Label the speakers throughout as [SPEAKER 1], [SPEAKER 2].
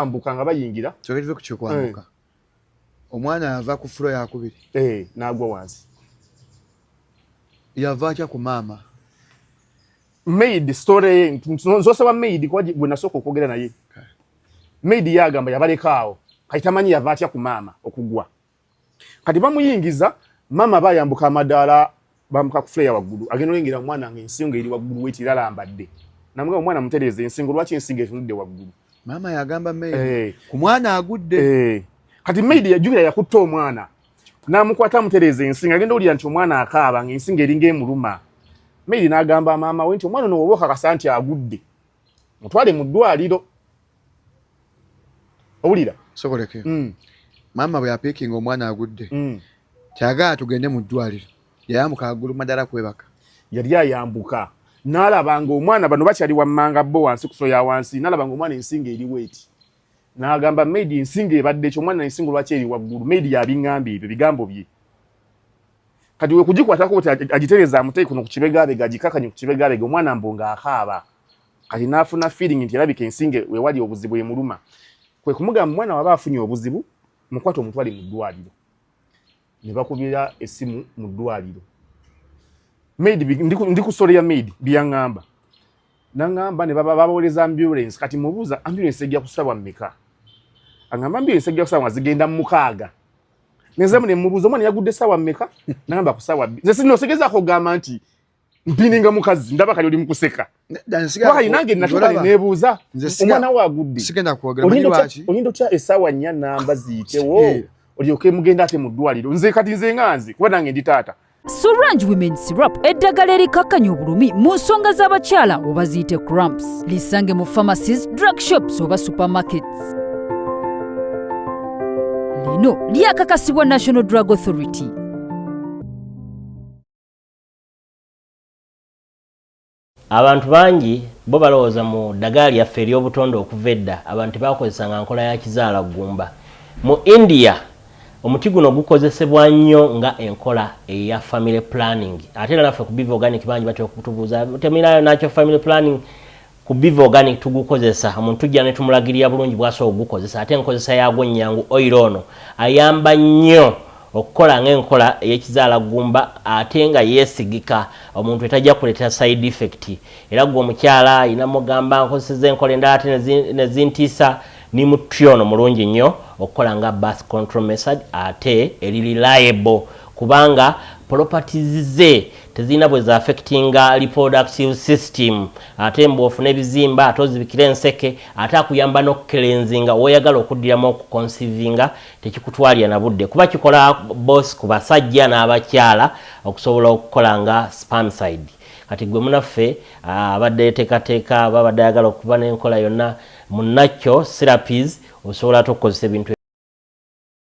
[SPEAKER 1] bakyambuka nga bayingira kyogereze ku kyokwambuka
[SPEAKER 2] eh. omwana yava ku fulo yakubiri eh, nagwa wansi yava atya ku maama
[SPEAKER 1] maid story nzosaba maid kuba gwe nasooka okwogera naye maid yagamba yabalekaawo kati tamanyi yava atya ku maama okugwa kati bamuyingiza mama bayambuka amadaala bamuka ku fleya waggulu agenda olengera omwana nga ensingo eri waggulu wekiralambadde namuga omwana mutereeza ensingo lwaki ensingo etunudde waggulu mama yagamba
[SPEAKER 2] maid hey. Eh. ku mwana agudde hey. Eh. kati maid
[SPEAKER 1] yajukira yakutta omwana namukwata amutereeza ensingo agenda owulira nti omwana akaaba nga ensingo eringa emuluma maid nagamba maama we nti omwana ono woba okakasa nti agudde mutwale mu ddwaliro owulira sokoleke
[SPEAKER 2] mm. maama bwe yapiikinga omwana agudde mm. kyagala tugende mu ddwaliro yayambuka agulu madala kwebaka yali ayambuka
[SPEAKER 1] nalaba nga omwana bano bakyali wammanga bo wansi kuso ya wansi nalaba nga omwana ensinga eri weeti nagamba maid ensinga ebadde ekyo omwana ensinga lwaki eri waggulu maid yabiŋŋamba ebyo bigambo bye kati wekugikwatako ti agitereza amuteyi kuno ku kibegabega agikakanye ku kibegabega omwana mbu nga akaaba kati n'afuna feeling nti erabika ensinge wewali obuzibu emuluma kwe kumugamba omwana waba afunye obuzibu mukwata omutwale mu ddwaliro ne bakubira essimu mu ddwaliro maid ndi ku sole ya maid byaŋŋamba naŋŋamba ne babawooleza ambulance kati mubuuza ambulance ejja kusabwa mmeka aŋamba ambulance ejja kusabwa nga zigenda mu mukaaga nezemu ne mubuuza omwana yagudde saawa mmeka naŋamba ku saawa nze sinosegezaako okugamba nti mpininga mukazi ndaba kali oli mukuseka why nange natuka nebuuza omwana wo agudde sigenda kwogera manyi lwaki oyinda otya esaawa nnya namba ziyitewo olyoke mugenda ate mu ddwaliro nze kati nze nga nze kuba nange ndi taata Suranj Women
[SPEAKER 3] Syrup eddagala erikakkanya obulumi mu nsonga z'abakyala oba ziyite cramps lisange mu pharmacies drug shops oba supermarkets lino lyakakasibwa national drug authority
[SPEAKER 4] Abantu bangi bo balowooza mu ddagala lyaffe ery'obutonde okuva edda abantu tebaakozesanga nkola ya kizaala ggumba. Mu India, omuti guno gukozesebwa nnyo nga enkola eya family planning. Ate era naffe ku Biva Organic bangi batera okutubuuza, Temulayo natural family planning? Ku Biva Organic tugukozesa, omuntu tujja ne tumulagirira bulungi bw'asobola okugukozesa ate enkozesa yaagwo nnyangu. Oyiro ono ayamba nnyo okukola ng'enkola ey'ekizaala ggumba ate nga yeesigika omuntu etajja kuleetera side effect. Era ggwe omukyala alina mugamba nkozeseza enkola endala ate ne zintiisa ni muti ono mulungi nnyo okukola nga birth control method ate eri reliable kubanga properties ze tezirina bwe za affectinga reproductive system ate mbu ofuna ebizimba ate ozibikira enseke ate akuyamba n'okukelenzinga woyagala okuddiramu okukonsivinga tekikutwalira na budde kuba kikola bosi ku basajja n'abakyala okusobola okukola nga spamside kati gwe munaffe ah, abadde yetekateeka babadde ayagala okuba n'enkola yonna munakyo serapis osobola tokukozesa ebintu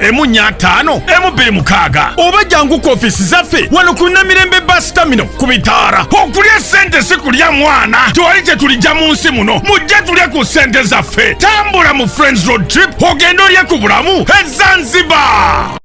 [SPEAKER 5] emu nnya ataano emu bbiri mukaaga oba jangu ku ofiisi zaffe wano ku namirembe basitamino ku bitaara okulya ssente si kulya mwana tewali kye tulijja mu nsi muno mujje tulye ku ssente zaffe tambula mu friends road trip ogende olye ku bulamu ezanzibar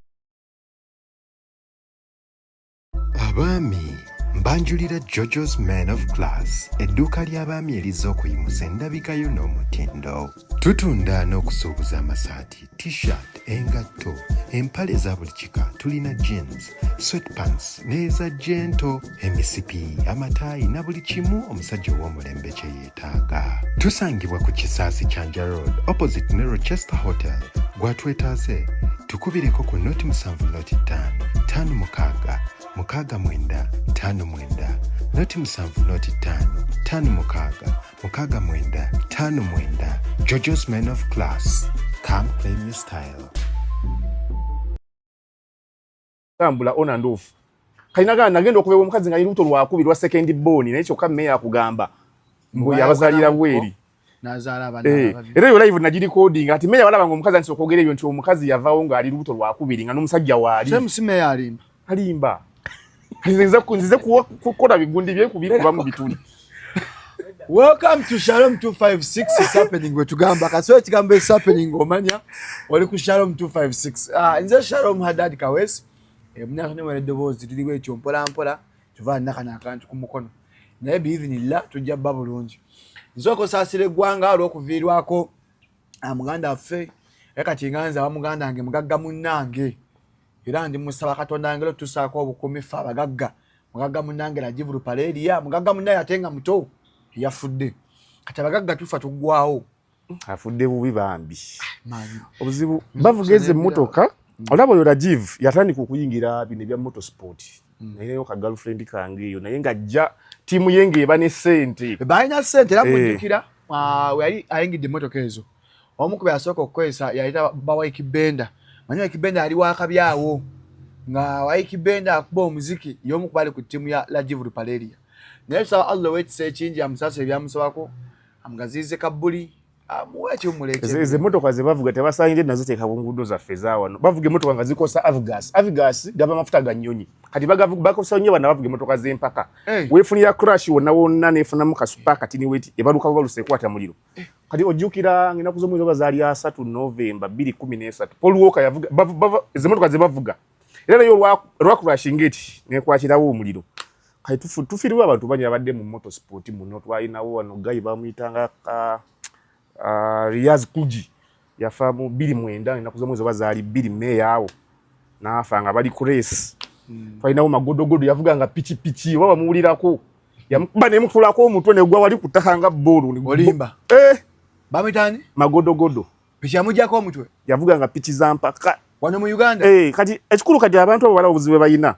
[SPEAKER 6] abaami mbanjulira jojo's man of class edduuka ly'abaami erizza okuyimusa endabika yo n'omutindo tutunda n'okusuubuza amasaati t-shirt engatto empale eza buli kika tulina jeans sweatpants n'eza jento emisipi amataayi na buli kimu omusajja ow'omulembe kyeye Taaga. Tusangibwa ku Kisaasi Kyanja Road opposite ne Rochester Hotel. Gwatwetaaze tukubireko ku noti musanvu noti ttaano ttaano mukaaga mukaaga mwenda ttaano mwenda noti musanvu noti ttaano ttaano mukaaga mukaaga mwenda ttaano mwenda Jojo's Man of Class. Come claim your style.
[SPEAKER 1] tambula on and off kalina gana nagenda okubewa omukazi nga lubuto lwakubi lwa second born naye kyokka meya akugamba mbu yabazalira bweri
[SPEAKER 2] eh, era eyo live nagi
[SPEAKER 1] recording ati meya walaba nga omukazi antisa okwogera ebyo nti omukazi yavawo nga ali lubuto lwakubiri nga n'omusajja waali
[SPEAKER 2] alimba
[SPEAKER 1] nzize kukola bigundi byekubiri kubamu bituli
[SPEAKER 2] Welcome to Shalom 256 is happening we tugamba kaswe kigambo is happening omanya oli ku Shalom 256 ah nze Shalom Hadad Kawes emna kane wale dobozi tuli we chompola mpola tuva na kana kantu ku mukono naye bi even illa tujja babulunji nzoko sasire gwanga alo kuvirwako amuganda ah, fe ekati nganza wa muganda ange mugagga munange era ndi musaba katonda ngelo tusako obukumi fa bagagga mugagga munange la jivuru parade ya mugagga munaye atenga muto yafudde kati abagagga tufa tugwawo afudde
[SPEAKER 1] bubi bambi ah, obuzibu bavugeze motoka mm. olaba oyo rajiv yatandika okuyingira bino ebya moto sport mm. nayeyo ka girlfriend kange eyo naye ng'ajja tiimu ye ng'eba ne sente balina sente era
[SPEAKER 2] mujjukira eh. ah, yali ayingidde emotoka ezo omu ku byasooka okukozesa yaleeta bawaiki benda manyi waiki benda yali wakabi awo nga waiki benda akuba omuziki yomu ku bali ku ttiimu ya lajivu lupaleria naye tusaba allah owekisa ekingi amusaasa ebyamusabako amugaziize kabbuli ezo emotoka zebavuga
[SPEAKER 1] tebasangire nazo teeka ku nguudo zaffe zawano bavuga emotoka nga zikosa avgas avgas gaba mafuta ga nnyonyi kati bakosa nnyo bana bavuga emotoka z'empaka weefunira crash wonna wonna neefunamu kasupa katini weti ebaluka babaluse ekwata muliro kati ojjukira ngenaku z'omwezi oba zaali asatu novemba bbiri kumi n'esatu paul walker yavuga ezimotoka ze bavuga era naye olwakurashinga eti nekwakirawo omuliro kati tufiiribwa abantu banyi abadde mu moto sport muno twalinawo wano gayi bamuyitanga ah, ah, riaz kuji yafa mu bbiri mwenda ennaku z'omwezi oba zaali bbiri meeyo awo n'afa nga bali ku reesi hmm. twalinawo magodogodo yavuga nga pikipiki oba bamuwulirako yamukuba nemukulako omutwe negwa wali kutaka nga bboolu olimba eh!
[SPEAKER 2] bamwitani magodogodo
[SPEAKER 1] piki yamujako
[SPEAKER 2] omutwe yavuga nga piki za
[SPEAKER 1] mpaka wano mu uganda eh,
[SPEAKER 2] kati ekikulu kati
[SPEAKER 1] abantu abo balaba obuzibu bwebalina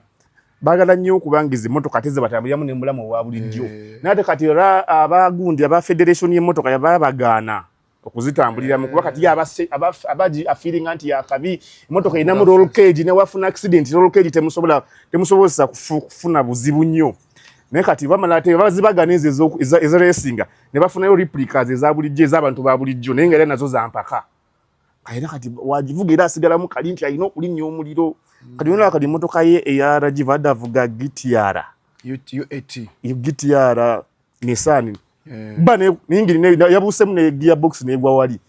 [SPEAKER 1] bagala nnyo okubanga ezi motoka ate zebatambuliramu nemulamu owa bulijjo eh. naye ate kati era abagundi aba federation y'emotoka yababagaana okuzitambuliramu kuba kati abase abaji afiringa nti yakabi emotoka erinamu roll cage newafuna accident roll cage temusobola temusobozesa kufuna buzibu nnyo naye kati bamala ate bazibagana ezo eziresinga ne bafunayo replicas eza bulijjo ez'abantu ba bulijjo naye nga era nazo zampaka era kati wagivuga era asigalamu kali nti alina okulinnya omuliro kati yona kati emotoka ye eya rajiv adavuga gitiara gitiara Nissan eh. ba ne ningiri ne yabusemu ne gearbox ne gwa wali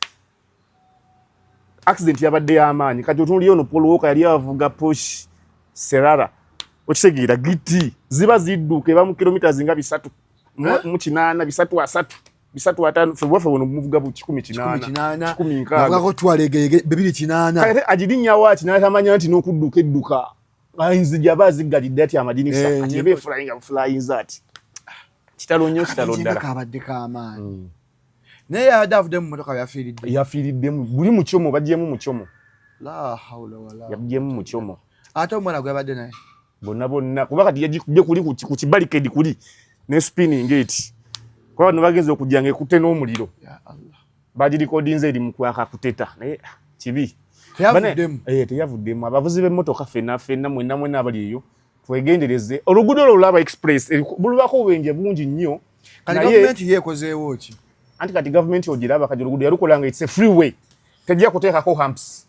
[SPEAKER 1] accident yabadde yamaanyi kati otunuli ono Paul Walker yali avuga push Serara okitegeera giti ziba zidduka eba mu kilomita zinga bisatu eh? mu kinaana bisatu asatu bisatu atano febwafe wono muvuga bu kikumi kinaana kikumi nkaga
[SPEAKER 2] twalege bibiri kinaana kati ajidinya
[SPEAKER 1] wachi natamanya nti nokudduka edduka ayinza jaba aziggalidde ati amadinisa eh, ati eba efulayinga bufulayinza ati kitalo nnyo kitalo ddala kabadde kamaani
[SPEAKER 2] hmm. naye yabadde avudde mu motoka yafiiridde yafiiriddemu
[SPEAKER 1] buli mukyomo bagyemu mukyomo
[SPEAKER 2] yabyemu mukyomo
[SPEAKER 1] ate omwana gwebadde
[SPEAKER 2] naye bonna bonna kuba
[SPEAKER 1] kati yagikubye kuli ku kibalikedi kuli ne spinning eti kuba bano bagenza okujja nga ekutte n'omuliro
[SPEAKER 2] bagirikodinze eri
[SPEAKER 1] mukwaka kuteta naye ah, kibi eh, teyavuddemu abavuzi b'emmotoka fena fena mwena mwena abali eyo twegendereze oluguudo olwo olaba express bulubako obubenje bungi nnyo gavumenti
[SPEAKER 2] yeekozeewo ki anti kati gavumenti
[SPEAKER 1] ogiraba kati oluguudo yalukola nga it's a free way tejja kuteekako humps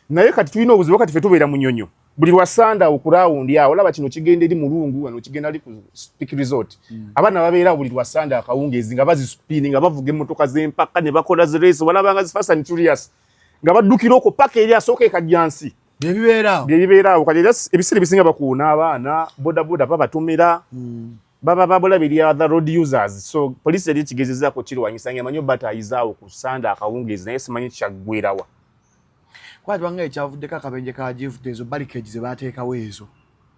[SPEAKER 1] naye kati tulina obuzibu kati fe tubeera munyonyo buli lwa sanda okurawundi awo olaba kino kigenda eri mulungu wano kigenda ali ku speak resort mm. abaana babeera buli lwa sanda akawungeezi nga bazispini nga bavuga emmotoka z'empaka ne bakola zirace walaba nga zifasa ni curious nga baddukira okwo paka eri asooka ekajjansi byebibeeraawo byebibeeraawo kati era ebiseera ebisinga bakuuna abaana bodaboda babatomera mm. baba babula biri other road users so police eri kigezeza ko kiri wanyisa nge manyo bata ayizao ku sanda akawungezi naye simanyi kyagwirawa
[SPEAKER 2] kwa twanga ekyavudde ka kabenje ka jivu tezo bali keji ze bateka wezo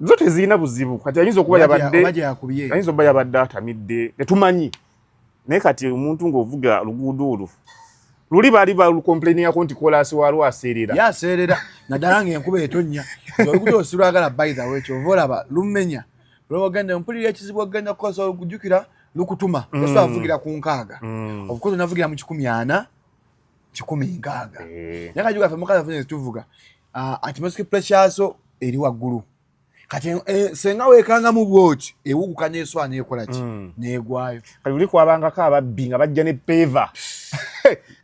[SPEAKER 2] zote zina
[SPEAKER 1] buzibu kati ayizo kuba yabadde ayizo baya badde atamidde netumanyi naye kati omuntu ng'ovuga luguudo olwo luli baali balukomplainingako nti kolaasi waalwo aseerera ye aseerera
[SPEAKER 2] naddala ng'enkuba etonnya oluguudo osilwagala baithawe kyova olaba lumenya lwewagenda mpulira ekizibu okugenda kukozesa olukujukira lukutuma mm. esa avugira ku nkaaga mm. obukozi navugira mu kikumi ana kikumi nkaaga eh. naye kajuga fe mukazi afunye zituvuga ah, ati masiki pressure so eri waggulu kati eh, senga wekanga mu bwoki ewuguka neswa nekola ki mm. negwayo kati uli kwabangako
[SPEAKER 1] ababbi nga bajja ne peva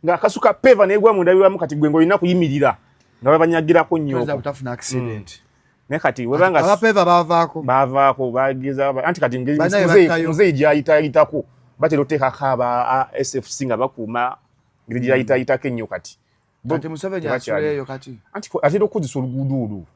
[SPEAKER 1] nga akasuka peva negwa mu ndabiramu kati gwe ngolina kuyimirira nga babanyagirako nnyo utafuna accident
[SPEAKER 2] mm. ne kati
[SPEAKER 1] webanga abapeva bavaako
[SPEAKER 2] bavaako
[SPEAKER 1] bageza anti kati ngezi mzee mzee jayita yitako batero teka kaba sfc nga bakuuma ngezi jayita yitake nnyo kati kati museveni
[SPEAKER 2] asuleeyo kati atera okukozesa
[SPEAKER 1] oluguudo olwo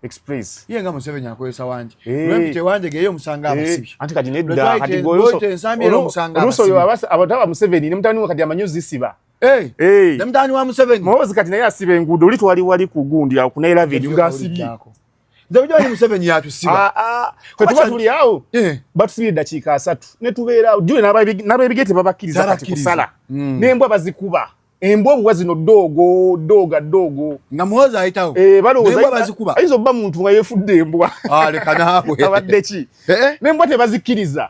[SPEAKER 1] express ye nga museveni
[SPEAKER 2] akozesa wangi eh. lwempite wanje geyo omusanga eh. abasibi anti kati nedda kati
[SPEAKER 1] goluuso oyo abataba museveni ne mutabani we kati amanyi ozisiba eh. ne
[SPEAKER 2] mutabani wa museveni muhoozi kati naye asiba enguudo
[SPEAKER 1] oli twali wali ku gundi awo kunaelavedi nga asibye nze bujawani
[SPEAKER 2] museveni yatusiba ah, ah. kwe tuba tuli
[SPEAKER 1] awo batusibira eddakiika asatu ne tubeera awo jule n'abebigete babakkiriza kati kusala hmm. n'embwa bazikuba embwa obwa zino doogo dooga doogo nga muwoza
[SPEAKER 2] ayitawo eh, balowooza bazikuba
[SPEAKER 1] ayinza obba muntu
[SPEAKER 2] nga
[SPEAKER 1] yefudde embwa ah,
[SPEAKER 2] abadde ki eh,
[SPEAKER 1] eh. nembwa tebazikkiriza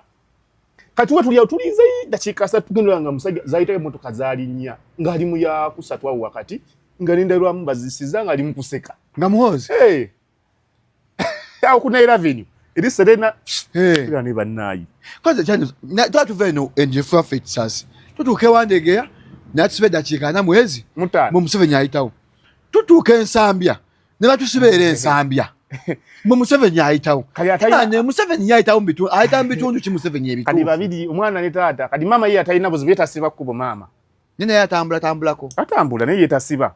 [SPEAKER 1] kati we tulyawo tulinze dakiika asatu tugendera nga musajja zayitayo emotoka zalinnya ng'ali mu yakusatu awo wakati nga nendalwamu bazisiza ng'ali mu kuseka nga muwozi awo ku naira venue eri serena era ne bannayi kwanza kyani
[SPEAKER 2] tuba tuva eno enjefu yaffe ekisasi tutuuka ewandegeya natusiba eddakiika ana mwezi mu museveni ayitawo tutuuka ensambya ne batusiba era ensambya mwe museveni ayitawo ne museveni yayitawo mubitundu ayita mu bitundu ki museveni ebituukadi babiri omwana ne
[SPEAKER 1] taata kadi maama ye atalina buzibu yetasiba kkubo maama naye naye atambula
[SPEAKER 2] tambulako atambula naye
[SPEAKER 1] yetasiba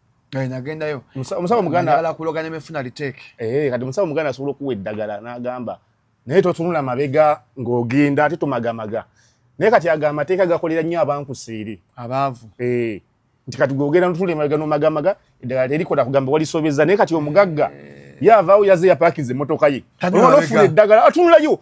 [SPEAKER 1] Eh, nagendayo
[SPEAKER 2] omusawo
[SPEAKER 1] muganda kuloga nemefuna liteeke
[SPEAKER 2] eh, kati omusawo muganda
[SPEAKER 1] asobola okuwa eddagala n'agamba naye totunula mabega ng'ogenda ate tomagamaga naye kati ago amateeka gakolera nnyo abankusiiri abaavu eh,
[SPEAKER 2] nti
[SPEAKER 1] kati gogenda notula emabega nomagamaga eddagala terikola kugamba walisobeza naye kati omugagga yavaawo yaze yapakinze emotoka ye olwalofuna eddagala atunulayo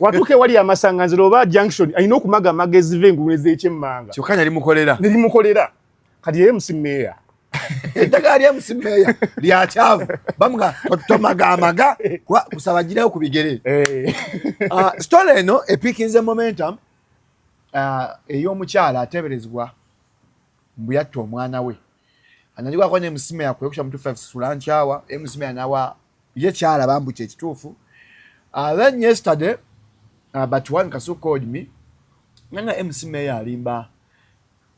[SPEAKER 1] watuuka ewali amasanganzira oba junction alina okumaga amagezi ve engulu ezekyemmanga kyokka nali mukolera
[SPEAKER 2] nali mukolera kati yeye
[SPEAKER 1] musimeeya eddagala
[SPEAKER 2] lya musimeeya lya kyavu bamuga tomaga amaga kusaba girayo ku bigere eh. ah, story eno epikinze momentum ah, ey'omukyala ateberezebwa mbu yatta omwana we anajua kwa ne msime ya kuepusha mtu fa sura nchawa e msime anawa ye chala bambu che kitufu uh, ah, then yesterday uh, but one kasu called me nana e msime ya limba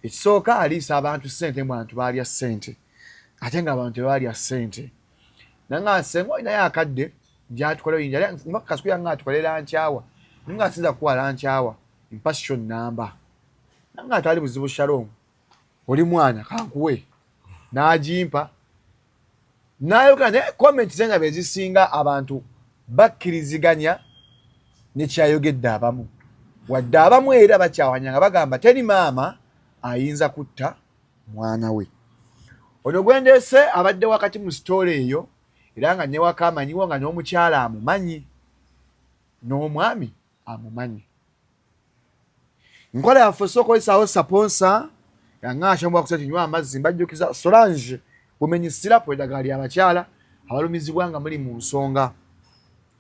[SPEAKER 2] ekisooka aliisa abantu sente mwantu baalya sente ate nga abantu tebaalya sente nanga senga olinayo akadde njatukola oyinja kasuku yanga atukolera nkyawa ninga asinza kukuwala nkyawa mpassion namba nanga atali buzibu shalom oli mwana kankuwe n'agimpa nayogera naye comment ze nga bezisinga abantu bakkiriziganya nekyayogedde abamu wadde abamu era bakyawanya nga bagamba teri maama ayinza kutta mwana we ono gwendeese abadde wakati mu sitoola eyo era nga newaka amanyiwo nga n'omukyala amumanyi n'omwami amumanyi nkola yaffe osobola okukozesaawo saponsa yangaashamu wakusa kinywa amazzi mbajjukiza solange bumenyi sirapu eddagala lya bakyala abalumizibwa nga muli mu nsonga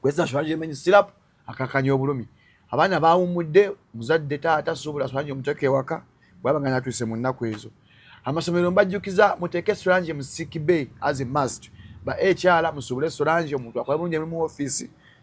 [SPEAKER 2] kweza solange emenyi sirapu akakanya obulumi abaana bawumudde muzadde taata suubula solange omuteeka ewaka bwaba nga natuuse mu nnaku ezo amasomero mbajjukiza muteeke solange mu sick bay as a must ba ekyala musuubule solange omuntu akola bulungi emu mu ofiisi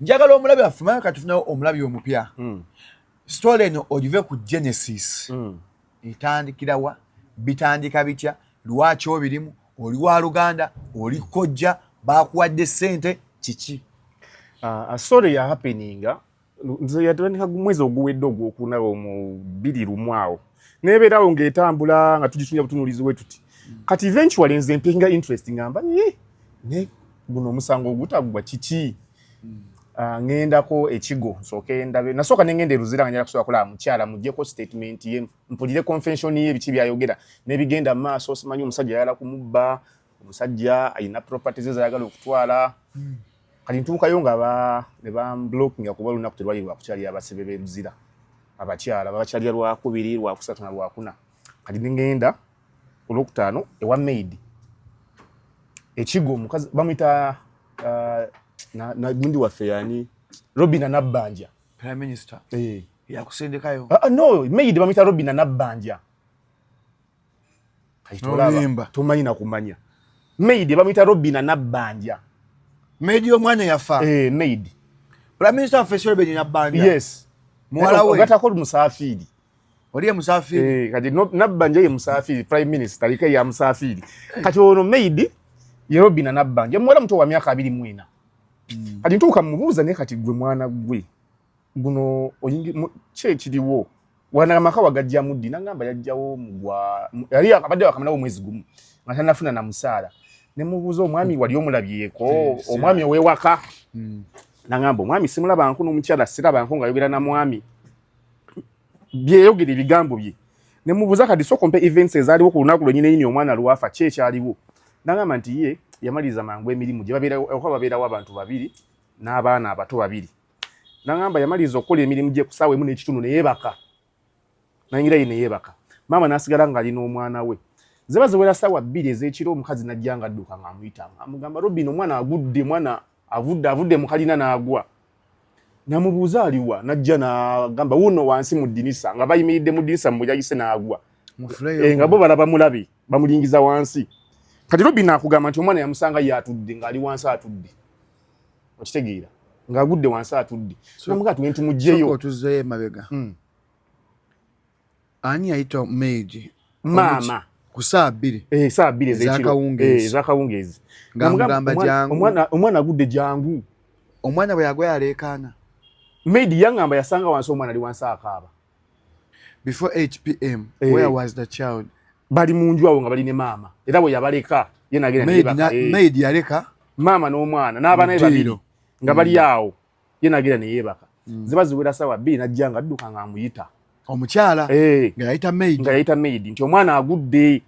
[SPEAKER 1] njagala
[SPEAKER 2] omulabi waffe maya katufunawo omulabi omupya mm. story eno ogive ku genesis mm. etandikirawa bitandika bitya lwaki obirimu oli wa luganda oli kojja bakuwadde sente kiki uh, uh,
[SPEAKER 1] story ya happeninga nze yatandika mwezi oguwedde ogwokunawo mu biri lumu awo nebeera awo ng'etambula nga tugitunja butunuulizi we tuti kati eventually nze mpinga interest ngamba eh, ne guno omusango ogutagwa kiki hmm. ah, ŋendako ekigo nsooke ndabe nasooka nengenda eruzira nga njala kusobola kulaba mukyala mujjeko statement ye mpulire convention ye biki byayogera nebigenda maaso simanyi omusajja ayala kumubba omusajja ayina properties ezayagala okutwala hmm. kati ntuukayo nga nebamblockinga kuba olunaku terwali lwakukyalira abasibe beruzira abakyala babakyalira lwakubiri lwakusatu na lwakuna kati ngenda olwokutaano ewa maid ekigo omukazi bamwita uh, gundi waffe yani robina nabbanja prime minister
[SPEAKER 2] eh. yakusindikayo ah, ah, no maid
[SPEAKER 1] bamwita robina nabbanja
[SPEAKER 2] kayitolaba tomanyi nakumanya
[SPEAKER 1] maid bamuyita robina nabbanja maid
[SPEAKER 2] omwana yafa eh, maid
[SPEAKER 1] prime minister
[SPEAKER 2] waffe solobeni nabbanja yes muwala
[SPEAKER 1] we ogatako
[SPEAKER 2] musafiiri
[SPEAKER 1] oli ye
[SPEAKER 2] musafiiri eh, kati nabbanja
[SPEAKER 1] ye musafiiri prime minister aliko ya musafiiri kati ono maid ye robina nabbanja muwala muto wa myaka abiri mwena hmm. kati ntuuka mubuuza naye kati gwe mwana gwe guno kye kiriwo wana maka wagajja muddi nangamba yajjawo mugwa yali akabadde wakamalawo mwezi gumu nga tanafuna na musaala ne mubuuza omwami wali omulabyeko omwami owewaka hmm. nangamba omwami simulaba nku n'omukyala siraba nku nga yogera na mwami byeyogera ebigambo bye ne mubuuza kati sooka ompe events ezaaliwo ku lunaku lwenyini yini omwana lwafa ki ekyaliwo nangamba nti ye yamaliza mangu emirimu gye babeera okuba babeerawo abantu babiri n'abaana abato babiri nangamba yamaliza okukola emirimu gye kusaawa emu n'ekitundu neyebaka nayingira ye neyebaka maama nasigala ng'ali n'omwana we ziba ziwera saawa bbiri ez'ekiro omukazi najja nga adduka ng'amuyita amugamba robin omwana agudde mwana avudde avudde mukalina n'agwa namubuuza aliwa najja nagamba wuuno wansi mu ddinisa nga bayimiridde mu ddinisa mubuyayise n'agwa eh, nga bo balaba mulabi bamulingiza wansi kati robin akugamba nti omwana yamusanga ye atudde ng'ali wansi atudde okitegeera ng'agudde wansi atudde namugaa tugende tumugjeyo otuzzeyo emabega
[SPEAKER 2] hmm. ani yayita meiji maama
[SPEAKER 1] ku saa bbiri
[SPEAKER 2] eh, saa bbiri
[SPEAKER 1] ezakawungeezi ngamugamba
[SPEAKER 2] jangu omwana agudde
[SPEAKER 1] jangu omwana bwe yagwa
[SPEAKER 2] yaleekaana meidi
[SPEAKER 1] yangamba yasanga wansi omwana ali wansi akaaba before
[SPEAKER 2] hpm hey. Eh. where was the child bali munju awo
[SPEAKER 1] nga bali ne maama era bwe yabaleka ye nagenda maid, na, hey. Eh. maid yaleka
[SPEAKER 2] maama n'omwana
[SPEAKER 1] n'abana babiri nga bali mm. awo ye nagenda ne yebaka mm. ziba ziwera sawa bbiri najja nga adduka nga amuyita omukyala
[SPEAKER 2] hey. Eh. nga yayita maid nga yayita maid nti omwana agudde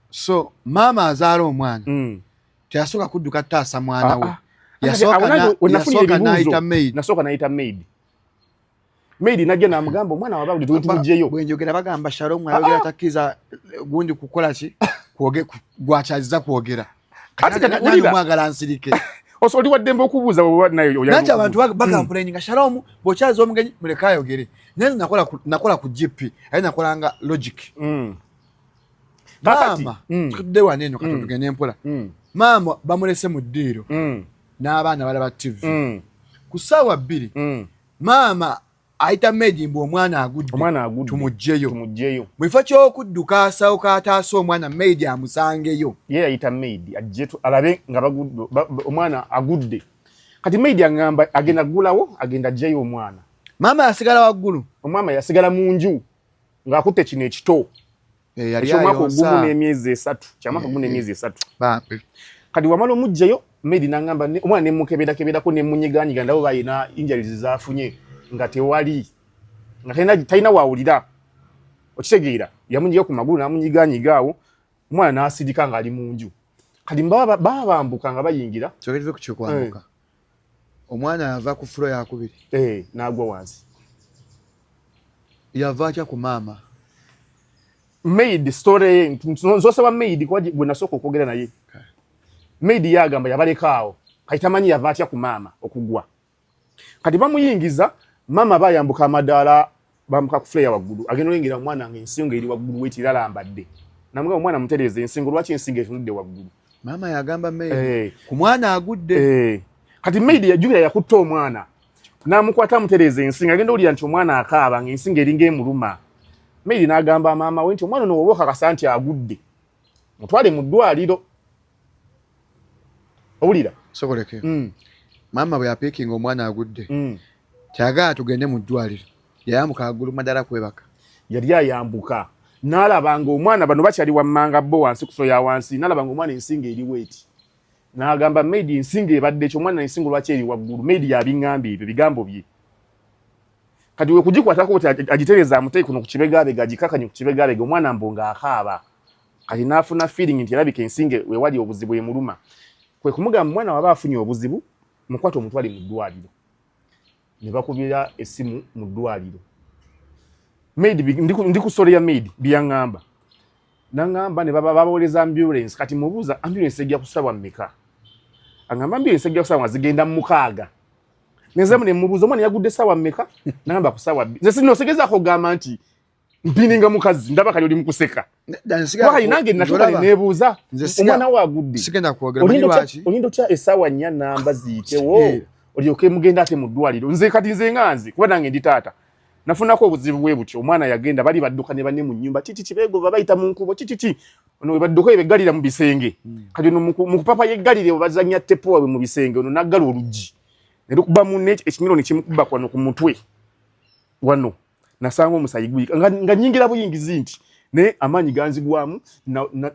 [SPEAKER 1] so
[SPEAKER 2] maama azaala omwana mm. teyasooka kudduka taasa mwana ah, we ah. yasooka
[SPEAKER 1] nayita maid Mary najja namugamba omwana wababuli tutujeyo. Bwenjogera bagamba
[SPEAKER 2] Shalom ayogera ah, ah. takiza eh, gundi kukola ki? Kuoge gwachaziza kuogera. Kati kati ulira mwagala nsirike. Oso oli wadembe
[SPEAKER 1] okubuza bwa nayo yoya. Nacha abantu
[SPEAKER 2] baka hmm. complaining nga Shalom bochazo omugenyi muleka ayogere. Nani nakola nakola ku GP. Ayi nakola nga logic. Mm. kakati mm. tudde wano eno kati mm. tugende mpola mm. maama bamulese mu ddiiro n'abaana balaba tv ku ssaawa bbiri maama ayita meji mbu omwana agudde tumugjeyo mu kifo ky'okudduka asawo kataasa omwana meidi amusangeyo ye yayita meidi
[SPEAKER 1] ajje alabe nga omwana agudde kati meidi agamba agenda kugulawo agenda ajjeyo omwana maama yasigala
[SPEAKER 2] waggulu omwama yasigala mu
[SPEAKER 1] nju ng'akutte kino ekito eh, ekyomwaka ogumu n'emyezi esatu kyamwaka gumu eh, n'emyezi eh. esatu kati wamala omugjayo medi nangamba omwana nemukeberakeberako nemunyiganyiga ndabo balina injuries zafunye nga tewali nga talina wawulira okitegeera yamunyiga ku magulu namunyiganyiga awo omwana nasirika ngaali mu nju kati baba bambuka nga bayingira
[SPEAKER 2] omwana yava ku furo yakubiri eh, nagwa wansi yava atya ku maama
[SPEAKER 1] maid story nzosaba maid kwaji gwe nasooka okwogera naye maid yagamba yabalekaawo kati tamanyi yava atya ku maama okugwa kati bamuyingiza maama bayambuka amadaala bamuka ku fleya waggulu agenda olengera omwana nga ensingo eri waggulu weti era alambadde namuga omwana mutereeza ensingo lwaki ensingo etunudde waggulu maama yagamba
[SPEAKER 2] maid eh. ku mwana agudde eh. kati maid
[SPEAKER 1] yajukira yakutta omwana namukwata amutereeza ensingo agenda olira nti omwana akaaba nga ensingo eringa emuluma maid nagamba maama we nti omwana ono woba okakasa nti agudde mutwale mu ddwaliro owulira sokoleke
[SPEAKER 2] mm. maama bwe yapiikinga omwana agudde mm. kyagala tugende mu ddwaliro yayambuka agulu madala kwebaka yali ayambuka
[SPEAKER 1] nalaba nga omwana bano bakyali wammanga bo wansi kuso ya wansi nalaba nga omwana ensinga eriwo eti nagamba maid ensinga ebadde ekyo omwana ensinga lwaki eri waggulu maid yabiŋŋamba ebyo bigambo bye kati we kugikwatako kuti agitereza amutei kuno ku kibegabega agikakanye ku kibegabega omwana mbu nga akaaba kati n'afuna feeling nti erabika ensinge wewali obuzibu emuluma kwe kumugamba omwana waba afunye obuzibu mukwata omutwale mu ddwaliro ne bakubira essimu mu ddwaliro maid ndi ku story ya maid byaŋŋamba naŋŋamba ne baba babawereza ambulance kati mubuuza ambulance ejja kusabwa mmeka aŋŋamba ambulance ejja kusabwa nga zigenda mu mukaaga nenzemu nemubuuza omwana yagudde saawa mmeka nagamba ku saawa bbi nze sino osegezako ogamba nti mpininga mukazi ndaba kali oli mukuseka wayi nange natuka nebuuza omwana wo agudde olinda otya esaawa nnya namba ziyitewo eh. olyoke mugenda ate mu ddwaliro nze kati nze nga nze kuba nange ndi taata nafunako obuzibu bwe butyo omwana yagenda bali badduka ne banne mu nnyumba kiki kibegova bayita mu nkubo kikiki ono webadduka ebeggalira mu bisenge hmm. kati ono mu kupapa yeggalire webazanya tepo wabwe mu bisenge ono naggala oluggi nerukuba munne ekinyiro nekimukuba kwano ku mutwe wano nasanga omusayi guyika nga, nga nyingira buyingizi nti naye amaanyi ganzigwamu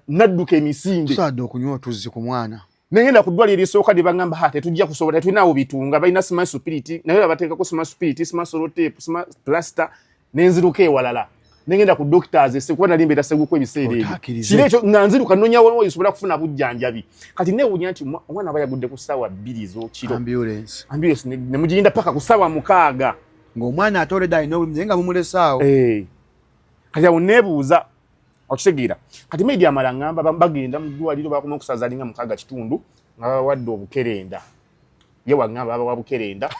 [SPEAKER 1] nadduka na, na emisinde tusaadde okunywa otuzzi
[SPEAKER 2] ku mwana nengenda ku ddwaliro
[SPEAKER 1] erisooka lye baŋŋamba ha tetujja kusobola tetulinaawo bitunga balina sima supiriti naye babateekako sima supiriti sima soloteepu sima pulasita nenziruka ewalala nengenda ku doctors ese kuba nali mbeera seguku ebiseera ebyo kiro ekyo nga nziruka nnoonya waliwo nsobola kufuna bujjanjabi kati neewunya nti omwana aba yagudde ku ssaawa bbiri z'okiro ambulance ambulance ne mugirinda paka ku ssaawa mukaaga ng'omwana atoledde
[SPEAKER 2] alina obulumi naye nga mumulesaawo eh.
[SPEAKER 1] kati awo neebuuza okitegeera kati maidi amala ngamba bagenda mu ddwaliro bakoma okusaza alinga mukaaga kitundu nga bawadde obukerenda ye wangamba babawa bukerenda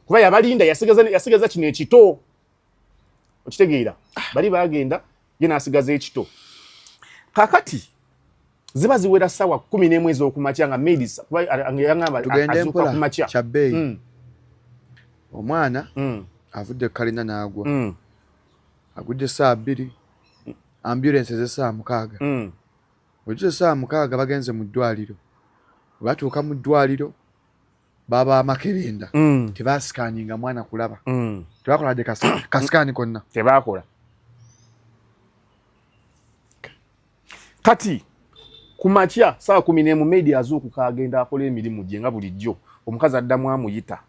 [SPEAKER 1] kuba yabalinda yasigaza kino ekito okitegeera bali bagenda ye nasigaza ekito kakati ziba ziwera sawa kumi nemu ezokumakya nga maidiyangambaakumakya kyabeeyi mm.
[SPEAKER 2] omwana mm. avudde kalina nagwa mm. agudde saa bbiri ambulance ez'essaawa mukaaga mm. wetusa essaawa mukaaga bagenze mu ddwaliro webatuuka mu ddwaliro baba amakerenda mm. tebasikaninga mwana kulaba mm. tebakola de kasikaani konna tebakola
[SPEAKER 1] kati ku makya saawa kumi n'emu media azuukuka agenda akola emirimu gye nga bulijjo omukazi addamu amuyita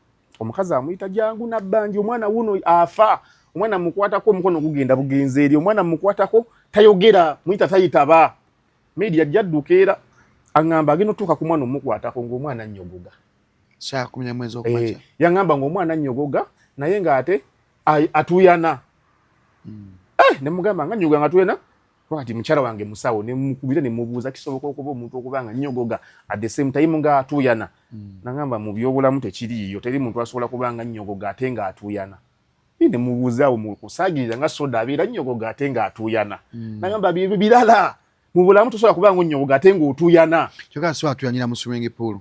[SPEAKER 1] omukazi amuyita jangu nabbanja omwana wuno afa omwana mukwatako omukono gugenda bugenzi eri omwana mukwatako tayogera muyita tayitaba media jadduka era aŋamba agenda otuuka ku mwana omukwatako ngaomwana nyogoga
[SPEAKER 2] eh, yaŋamba ngaomwana
[SPEAKER 1] nyogoga naye ngaate atuyana hmm. eh, nemugamba nga nyogoga nga tuyana Wakati mukyala wange musawo ne mukubira ne mubuuza kisoboka okuba omuntu okuba nga nnyogoga at the same time nga atuuyana mm. nagamba mu byobulamu tekiriiyo teri muntu asobola kuba nga nnyogoga ate nga atuuyana ne mubuuzaawo mu kusaagirira nga soda abeera nnyogoga ate nga atuuyana mm. nagamba byebyo birala mu bulamu tosobola kuba nga onnyogoga ate nga otuuyana kyoka si atuuyanira
[SPEAKER 2] mu swimming pool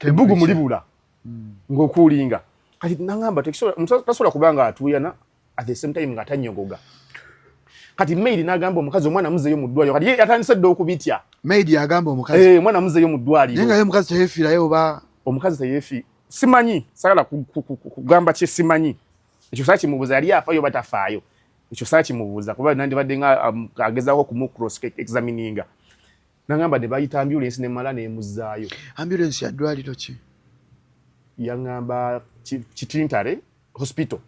[SPEAKER 1] ebugu mulibula ngokulinga kati nangamba tasobola kuba nga atuyana at the same time nga tanyogoga kati maid nagamba omukazi omwana muzeyo mu ddwaliro kati yatandise dda okubitya maid yagamba
[SPEAKER 2] omukazi eh, omwana muzeyo mu ddwaliro
[SPEAKER 1] naye nga ye omukazi teyefiirayo
[SPEAKER 2] oba omukazi teyefi
[SPEAKER 1] simanyi sagala kugamba kye simanyi ekyo saa kimubuuza yali afayo oba tafaayo ekyo saa kimubuuza kuba nandibadde nga um, agezaako okumucross examininga Nangamba de bayita ambulance ne mala ne muzayo. Ambulance ya dwali
[SPEAKER 2] tochi. Yangamba
[SPEAKER 1] chitintare hospital.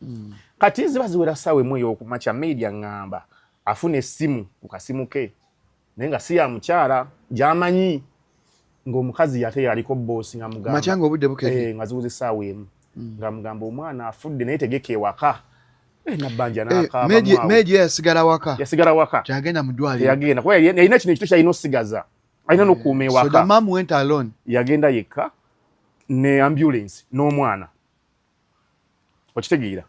[SPEAKER 1] Mm. Kati ziba ziwera sawe mwe yoku macha maid yangamba afune simu ukasimuke. Nenga siya mchara jamanyi. ng'omukazi yate yaliko bboosi nga mugamba obudde bukeye eh, nga
[SPEAKER 2] ziwuza essaawa emu mm.
[SPEAKER 1] nga mugamba omwana afudde naye tegeka ewaka eh, nabbanja eh, nakameji yasigala
[SPEAKER 2] waka yasigala waka kyagenda mu ddwaliro yagenda kuba yalina kino
[SPEAKER 1] ekito kyalina osigaza alina n'okuuma ewaka
[SPEAKER 2] yagenda yekka
[SPEAKER 1] ne ambulensi n'omwana okitegeera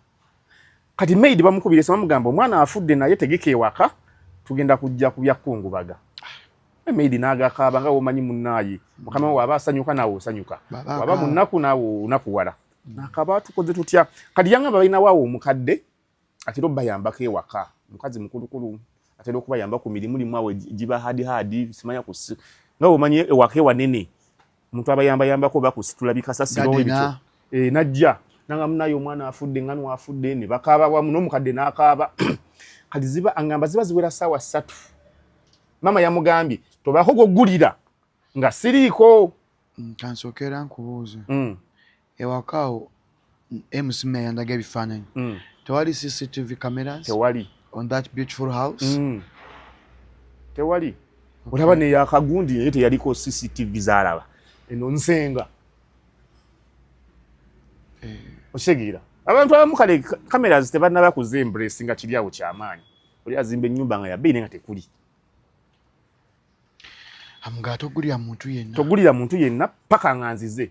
[SPEAKER 1] kati maid bamukubira esimu bamugamba omwana afudde naye tegeka ewaka tugenda kujja ku byakungubaga eh, maid n'agakaaba nga womanyi munnaaye mukama wawe aba asanyuka naawe osanyuka waba munnaku naawe onakuwala nakaba tukoze tutya kati yangamba balinawo awo omukadde atera obayambako ewaka mukazi mukulukulu atera okubayamba ku mirimu limu awo giba hadi hadi simanya ku nga omanyi ewaka ewanene omuntu abayambayambako oba kusitula bikasasiro ebikyo eh, najja nanga munaye omwana afudde nga nwafudde ne bakaaba wamu n'omukadde n'akaaba kati ziba angamba ziba ziwera saawa ssatu maama yamugambye tobaako gwogulira nga siriiko mm, kansokera
[SPEAKER 2] nkubuuza mm. ewaka awo MC Meya yandaga ebifaananyi mm. tewali CCTV cameras tewali on that
[SPEAKER 1] beautiful
[SPEAKER 2] house mm.
[SPEAKER 1] tewali olaba okay. neyakagundi naye teyaliko CCTV zalaba eno nsenga eh. okitegeera abantu abamu kale cameras tebanaba kuze embrace nga kiri awo kyamaanyi oli azimba ennyumba nga yabeine nga tekuli
[SPEAKER 2] amugala togulira muntu yenna
[SPEAKER 1] togulira muntu yenna paka nga nzize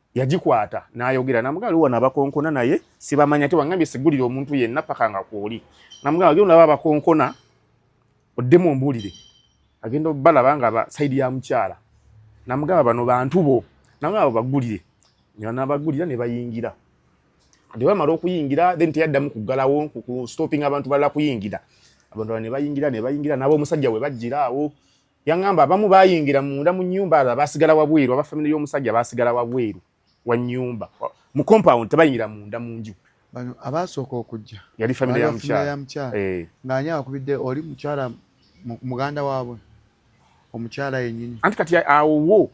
[SPEAKER 1] yagikwata n'ayogera namugamba liwo nabakonkona naye sibamanya te wangambye sigulira omuntu yenna paka nga kwoli namugamba gyo naba abakonkona oddemu ombuulire agenda obalaba nga ba saidi ya mukyala namugamba bano bantu bo namugamba abo bagulire nabagulira ne bayingira ate bamala okuyingira then teyaddamu kuggalawo ku stopping abantu balala kuyingira abantu ne bayingira ne bayingira n'ab'omusajja we bajjira awo Yangamba abamu bayingira munda mu nyumba ala basigala wabweru aba family yo musajja basigala wabweru wa nyumba mu compound tebayingira munda mu nju bano abasooka
[SPEAKER 2] okujja yali family ya mchara
[SPEAKER 1] ya mchara eh nganya
[SPEAKER 2] akubidde oli mchara muganda wabwe omuchara yenyini anti kati awo wo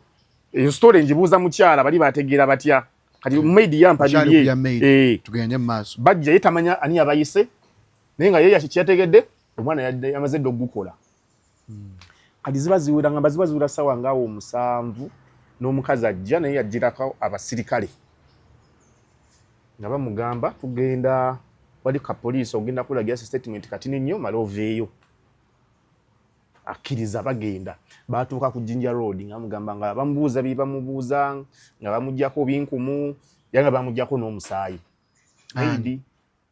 [SPEAKER 1] eyo story njibuza mchara bali bategera batya kati hmm. maid ya mpadiye eh tugende maso
[SPEAKER 2] bajja yetamanya ani
[SPEAKER 1] abayise nenga yeye akikyategedde omwana yadde amazedde okukola hmm. kati ziba ziwera ngamba ziba ziwera sawa ngaawo omusanvu n'omukazi ajja naye yajjirako abasirikale nga bamugamba tugenda wali ka poliisi ogenda kulagira si statement kati ninnyo mala oveeyo akkiriza bagenda baatuuka ku jinja road nga bamugamba nga bamubuuza bye bamubuuza nga bamugyako binkumu ya nga bamugyako n'omusaayi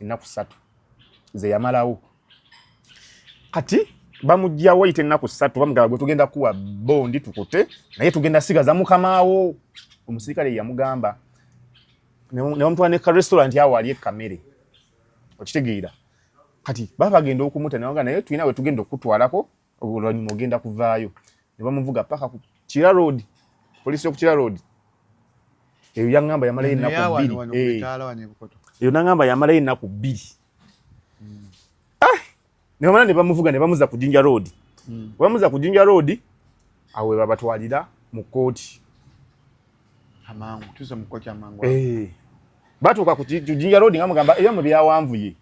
[SPEAKER 1] ennaku ssatu ze yamalawo kati bamugyawo ayita ennaku ssatu bamugamba gwe tugenda kuwa bondi tukute naye tugenda sigaza mukamaawo omusirikale yamugamba nebamutwala ne karestaurant awo ali ekamere okitegeera kati baba bagenda okumuta nawaga naye tulina wetugenda okukutwalako oluvannyuma ogenda kuvaayo ne bamuvuga paka ku kira road poliisi yo ku kira road eyo yaŋŋamba yamalayo ennaku bbiri eh. eyo naŋŋamba yamalayo ennaku bbiri hmm. ah! ne bamala ne bamuvuga ne bamuza ku jinja road hmm. bamuza ku jinja road awo webabatwalira mu kkooti
[SPEAKER 2] eh.
[SPEAKER 1] batuuka ku jinja road nga mugamba ebyamwe byawanvuye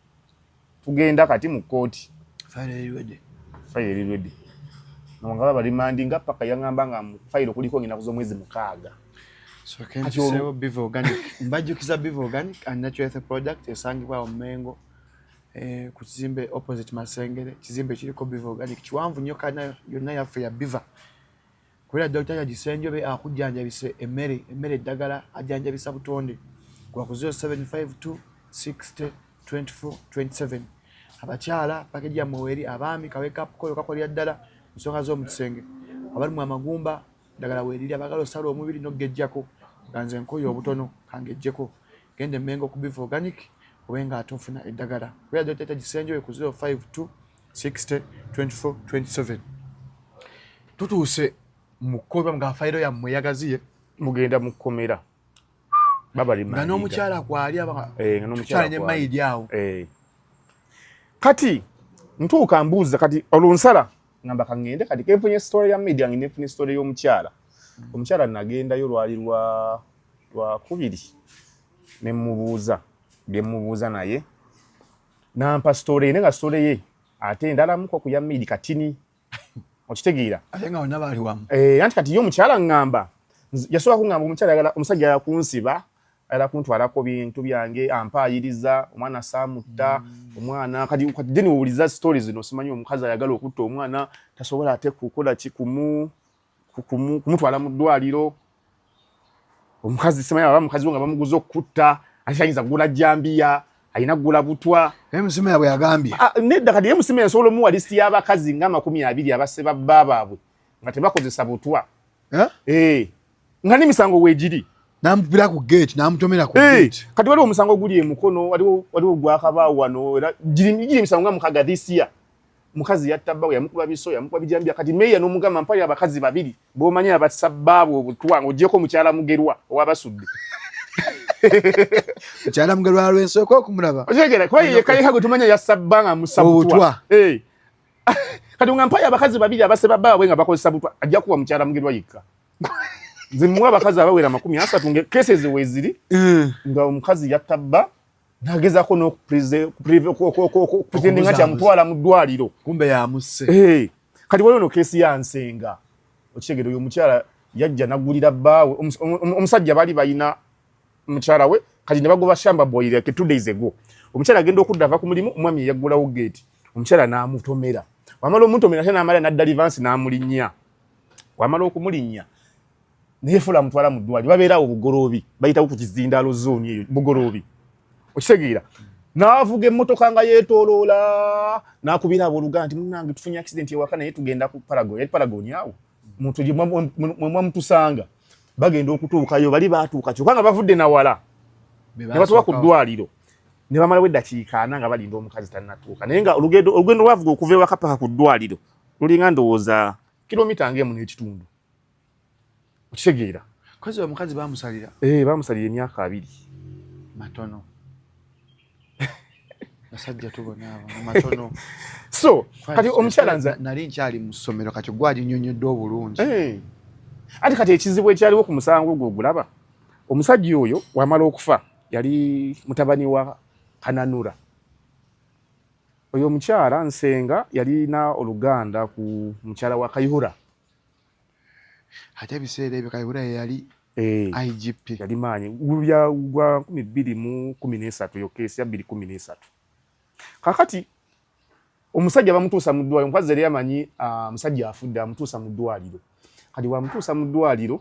[SPEAKER 1] tugenda kati mu kkooti fayirirwede nga babalimandi nga paka yaŋamba nga fayiro kuliko nginaku z'omwezi mukaaga
[SPEAKER 2] mbajjukiza biva organic and natural health product esangibwa awo mengo eh, ku kizimbe opposite masengere kizimbe kiriko biva organic kiwanvu nnyo kana yonna yaffe ya biva Kubera Dokita Jaji Ssenjobe akujjanjabise emmere, emmere eddagala ajjanjabisa butonde. Kuba ku 0752 60 24 27. Abakyala pakeji yammwe weeri, abaami kawekapu koyo kakolera ddala mu nsonga z'omu kisenge. Abalumwa amagumba eddagala weeriri, abagala osala omubiri n'oggejjako nga nze nkoye obutono kangejjeko. Genda e Mengo ku Biva Organic obe ng'ate ofuna eddagala. Kubera Dokita Jaji Ssenjobe ku 052 60 24 27 tutuuse mu kkomera nga fayiro yammwe yagaziye mugenda mu
[SPEAKER 1] kkomera nga n'omukyala kwali eh,
[SPEAKER 2] abakyala ne
[SPEAKER 1] mayidi awo eh.
[SPEAKER 2] kati
[SPEAKER 1] ntuuka mbuuza kati olunsala ngamba kangende kati kenfunye sitole ya mayidi yange nenfunye sitole y'omukyala omukyala nagendayo lwali lwa lwakubiri ne mubuuza bye mubuuza naye nampa story ye nga story ye ate ndalamu ko kuya midi katini okitegeera ate nga wonna baali
[SPEAKER 2] wamu eh, anti kati ye omukyala
[SPEAKER 1] ŋŋamba yasobola kuŋŋamba omukyala yagala omusajja yala kunsiba ayala kuntwalako bintu byange ampaayiriza omwana saamutta mm. omwana kati kati deni wowuliza story zino simanyi omukazi ayagala okutta omwana tasobola ate kukola kikumu kumutwala mu ddwaliro omukazi simanyi aba mukazi we nga bamuguza okukutta ate ayinza kugula jambiya alina kugula butwa naye musima yabwe yagambye
[SPEAKER 2] ah, nedda kati ye musima
[SPEAKER 1] yasobola omuwa lisiti y'abakazi nga amakumi abiri abasse babba baabwe nga tebakozesa butwa eh? Eh. nga n'emisango weegiri namupira ku
[SPEAKER 2] gate namutomera ku eh, gate kati waliwo omusango oguli
[SPEAKER 1] emukono waliwo gwakabaawo wano era giri emisango nga mukaga this year mukazi yatta bbawe yamukuba biso yamukuba bijambya kati meeya n'omugamba mpayo abakazi babiri b'omanyi abassa bbaabwe obutwa ng'ogyeko mukyala mugerwa owabasudde
[SPEAKER 2] mukyala mugerwa alwensooka okumulaba okitegera kuba yeyekayeka
[SPEAKER 1] gwe tumanya yassa bba nga mussa butwa eh. kati nga mpayo abakazi babiri abaseba bbaabwe nga bakozesa butwa ajja kuwa mukyala mugerwa yekka nze muwa abakazi abawera amakumi asatu nga kesezi weziri eh. nga omukazi yatta bba nagezako nokupretendinga kyamutwala mu ddwaliro kumbe yamuse
[SPEAKER 2] eh, kati waliwo no
[SPEAKER 1] kesi ya nsenga okitegere oyo omukyala yajja nagulira bbaawe omusajja bali balina mukyala we kati nebagoba shamba boy like two days ago omukyala agenda okudda ava ku mulimu omwami eyaggulawo geeti omukyala n'amutomera wamala omutomera ate n'amala n'adda livansi n'amulinnya wamala okumulinnya naye fula amutwala mu ddwaliro babeera awo bugoloobi bayitawo ku kizindaalo zooni eyo bugoloobi okitegeera n'avuga emmotoka nga yeetooloola n'akubira abooluganda nti munange tufunye accident ewaka naye tugenda ku paragon yali paragon awo muntu gye mwamutusanga bagenda okutuukayo bali baatuuka kyokka nga bavudde na wala ne batuuka ku ddwaliro ne bamalawo eddakiika ana nga balinda omukazi tannatuuka naye nga olugendo lwavuga okuva ewaka paka ku ddwaliro lulinga ndowooza kilomita ng'emu n'ekitundu okitegeera kazi wa
[SPEAKER 2] mukazi bamusalira eh bamusalira emyaka
[SPEAKER 1] abiri matono
[SPEAKER 2] basajja tubona abo matono so
[SPEAKER 1] kati omukyala nza nali nkyali mu ssomero
[SPEAKER 2] kati gwali nyonyodde obulungi eh
[SPEAKER 1] ati kati ekizibu ekyaliwo ku musango ogwo ogulaba omusajja oyo wamala okufa yali mutabani wa kananura oyo omukyala nsenga yalina oluganda ku mukyala wa kayihura ate
[SPEAKER 2] ebiseera ebyo kayihura yeyali eh, igp yali maanyi
[SPEAKER 1] gubya gwa nkumi bbiri mu kumi n'esatu eyo keesi ya bbiri kumi n'esatu kakati omusajja bamutuusa mu ddwaliro omukazi yali amanyi ah, musajja afudde amutuusa mu ddwaliro kati bwamutuusa mu ddwaliro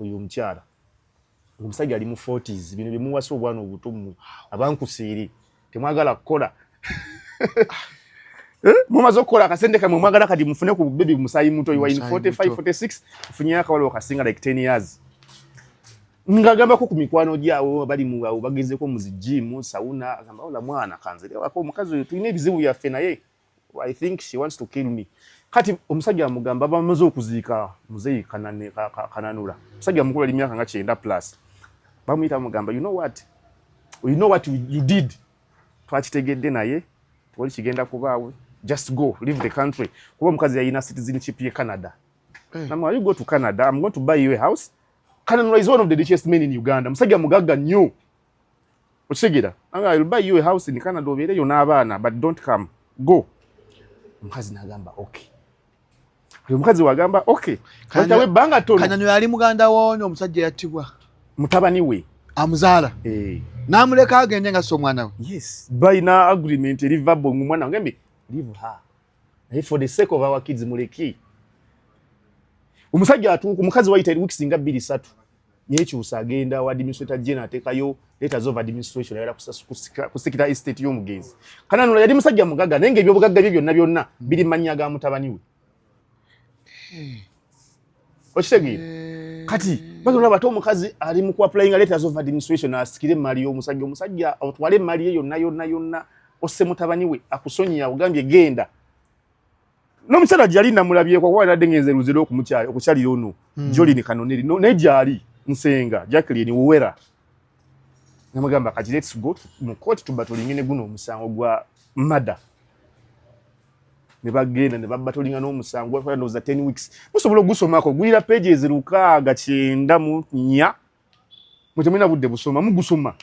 [SPEAKER 1] oyo omukyala omusajja ali mu 40s bino byemuwasa obwana obutumu abankusiiri temwagala kukola eh, mumaze okukola akasente kamwe mwagala kati mufune ku bebi musayi muto iwain 4546 funyeyo akawalo kasinga like 10 years ngagambako ku mikwano gyawo bali muwawo bagezeko muzijimu sauna agamba ola mwana kanzere wako omukazi oyo tulina ebizibu byaffe naye I think she wants to kill me. Kati omusajja amugamba bamaze okuziika muzeyi kanane kananura. Omusajja mukulu ali myaka nga 90 plus. Bamuyita amugamba you know what? You know what you did? Twakitegedde naye toli kigenda kubaawe. Just go leave the country. Kuba mukazi yalina citizenship ye Canada. Hey. Eh. Namwa you go to Canada, I'm going to buy you a house. Kananura is one of the richest men in Uganda. Musajja mugagga nnyo. okitegera anga I'll buy you a house in Canada obeereyo n'abaana but don't come go omukazi n'agamba okay oyo omukazi wagamba okay katawe banga tono kanyanyo yali muganda
[SPEAKER 2] wonyo omusajja yattibwa mutabani we
[SPEAKER 1] amuzaala eh
[SPEAKER 2] namuleka agende nga so mwana we yes by na
[SPEAKER 1] agreement eri verbal mu mwana ngembi leave her naye for the sake of our kids muleki omusajja atuuka omukazi wayita weeks nga bbiri satu yekyusa agenda wa administrator general atekayo letters of administration ayala kusikita estate y'omugenzi kana nula yali musajja mugaga naye nga ebyobugagga bye byonna byonna biri mannya ga mutabani we hmm. okitegeera eh. kati baga olaba ate omukazi ali mu kuapulayinga letters of administration asikire emmaali y'omusajja omusajja otwale emmaali ye yonna yonna yonna osse mutabani we akusonyiya ogambye genda n'omukyala gyali namulabyeko kuba nadde ngenze luzira okukyalira ono hmm. jolini kanoneri naye gyali nsenga jacklin wowera namugamba kati lets go mu kooti tuba tulinge ne guno omusango gwa mada ne bagenda ne babatolinga n'omusango gwatwala ndowooza ten weeks musobola ogusomako guyira pages lukaaga kyenda mu nnya mwe temulina budde busoma mugusoma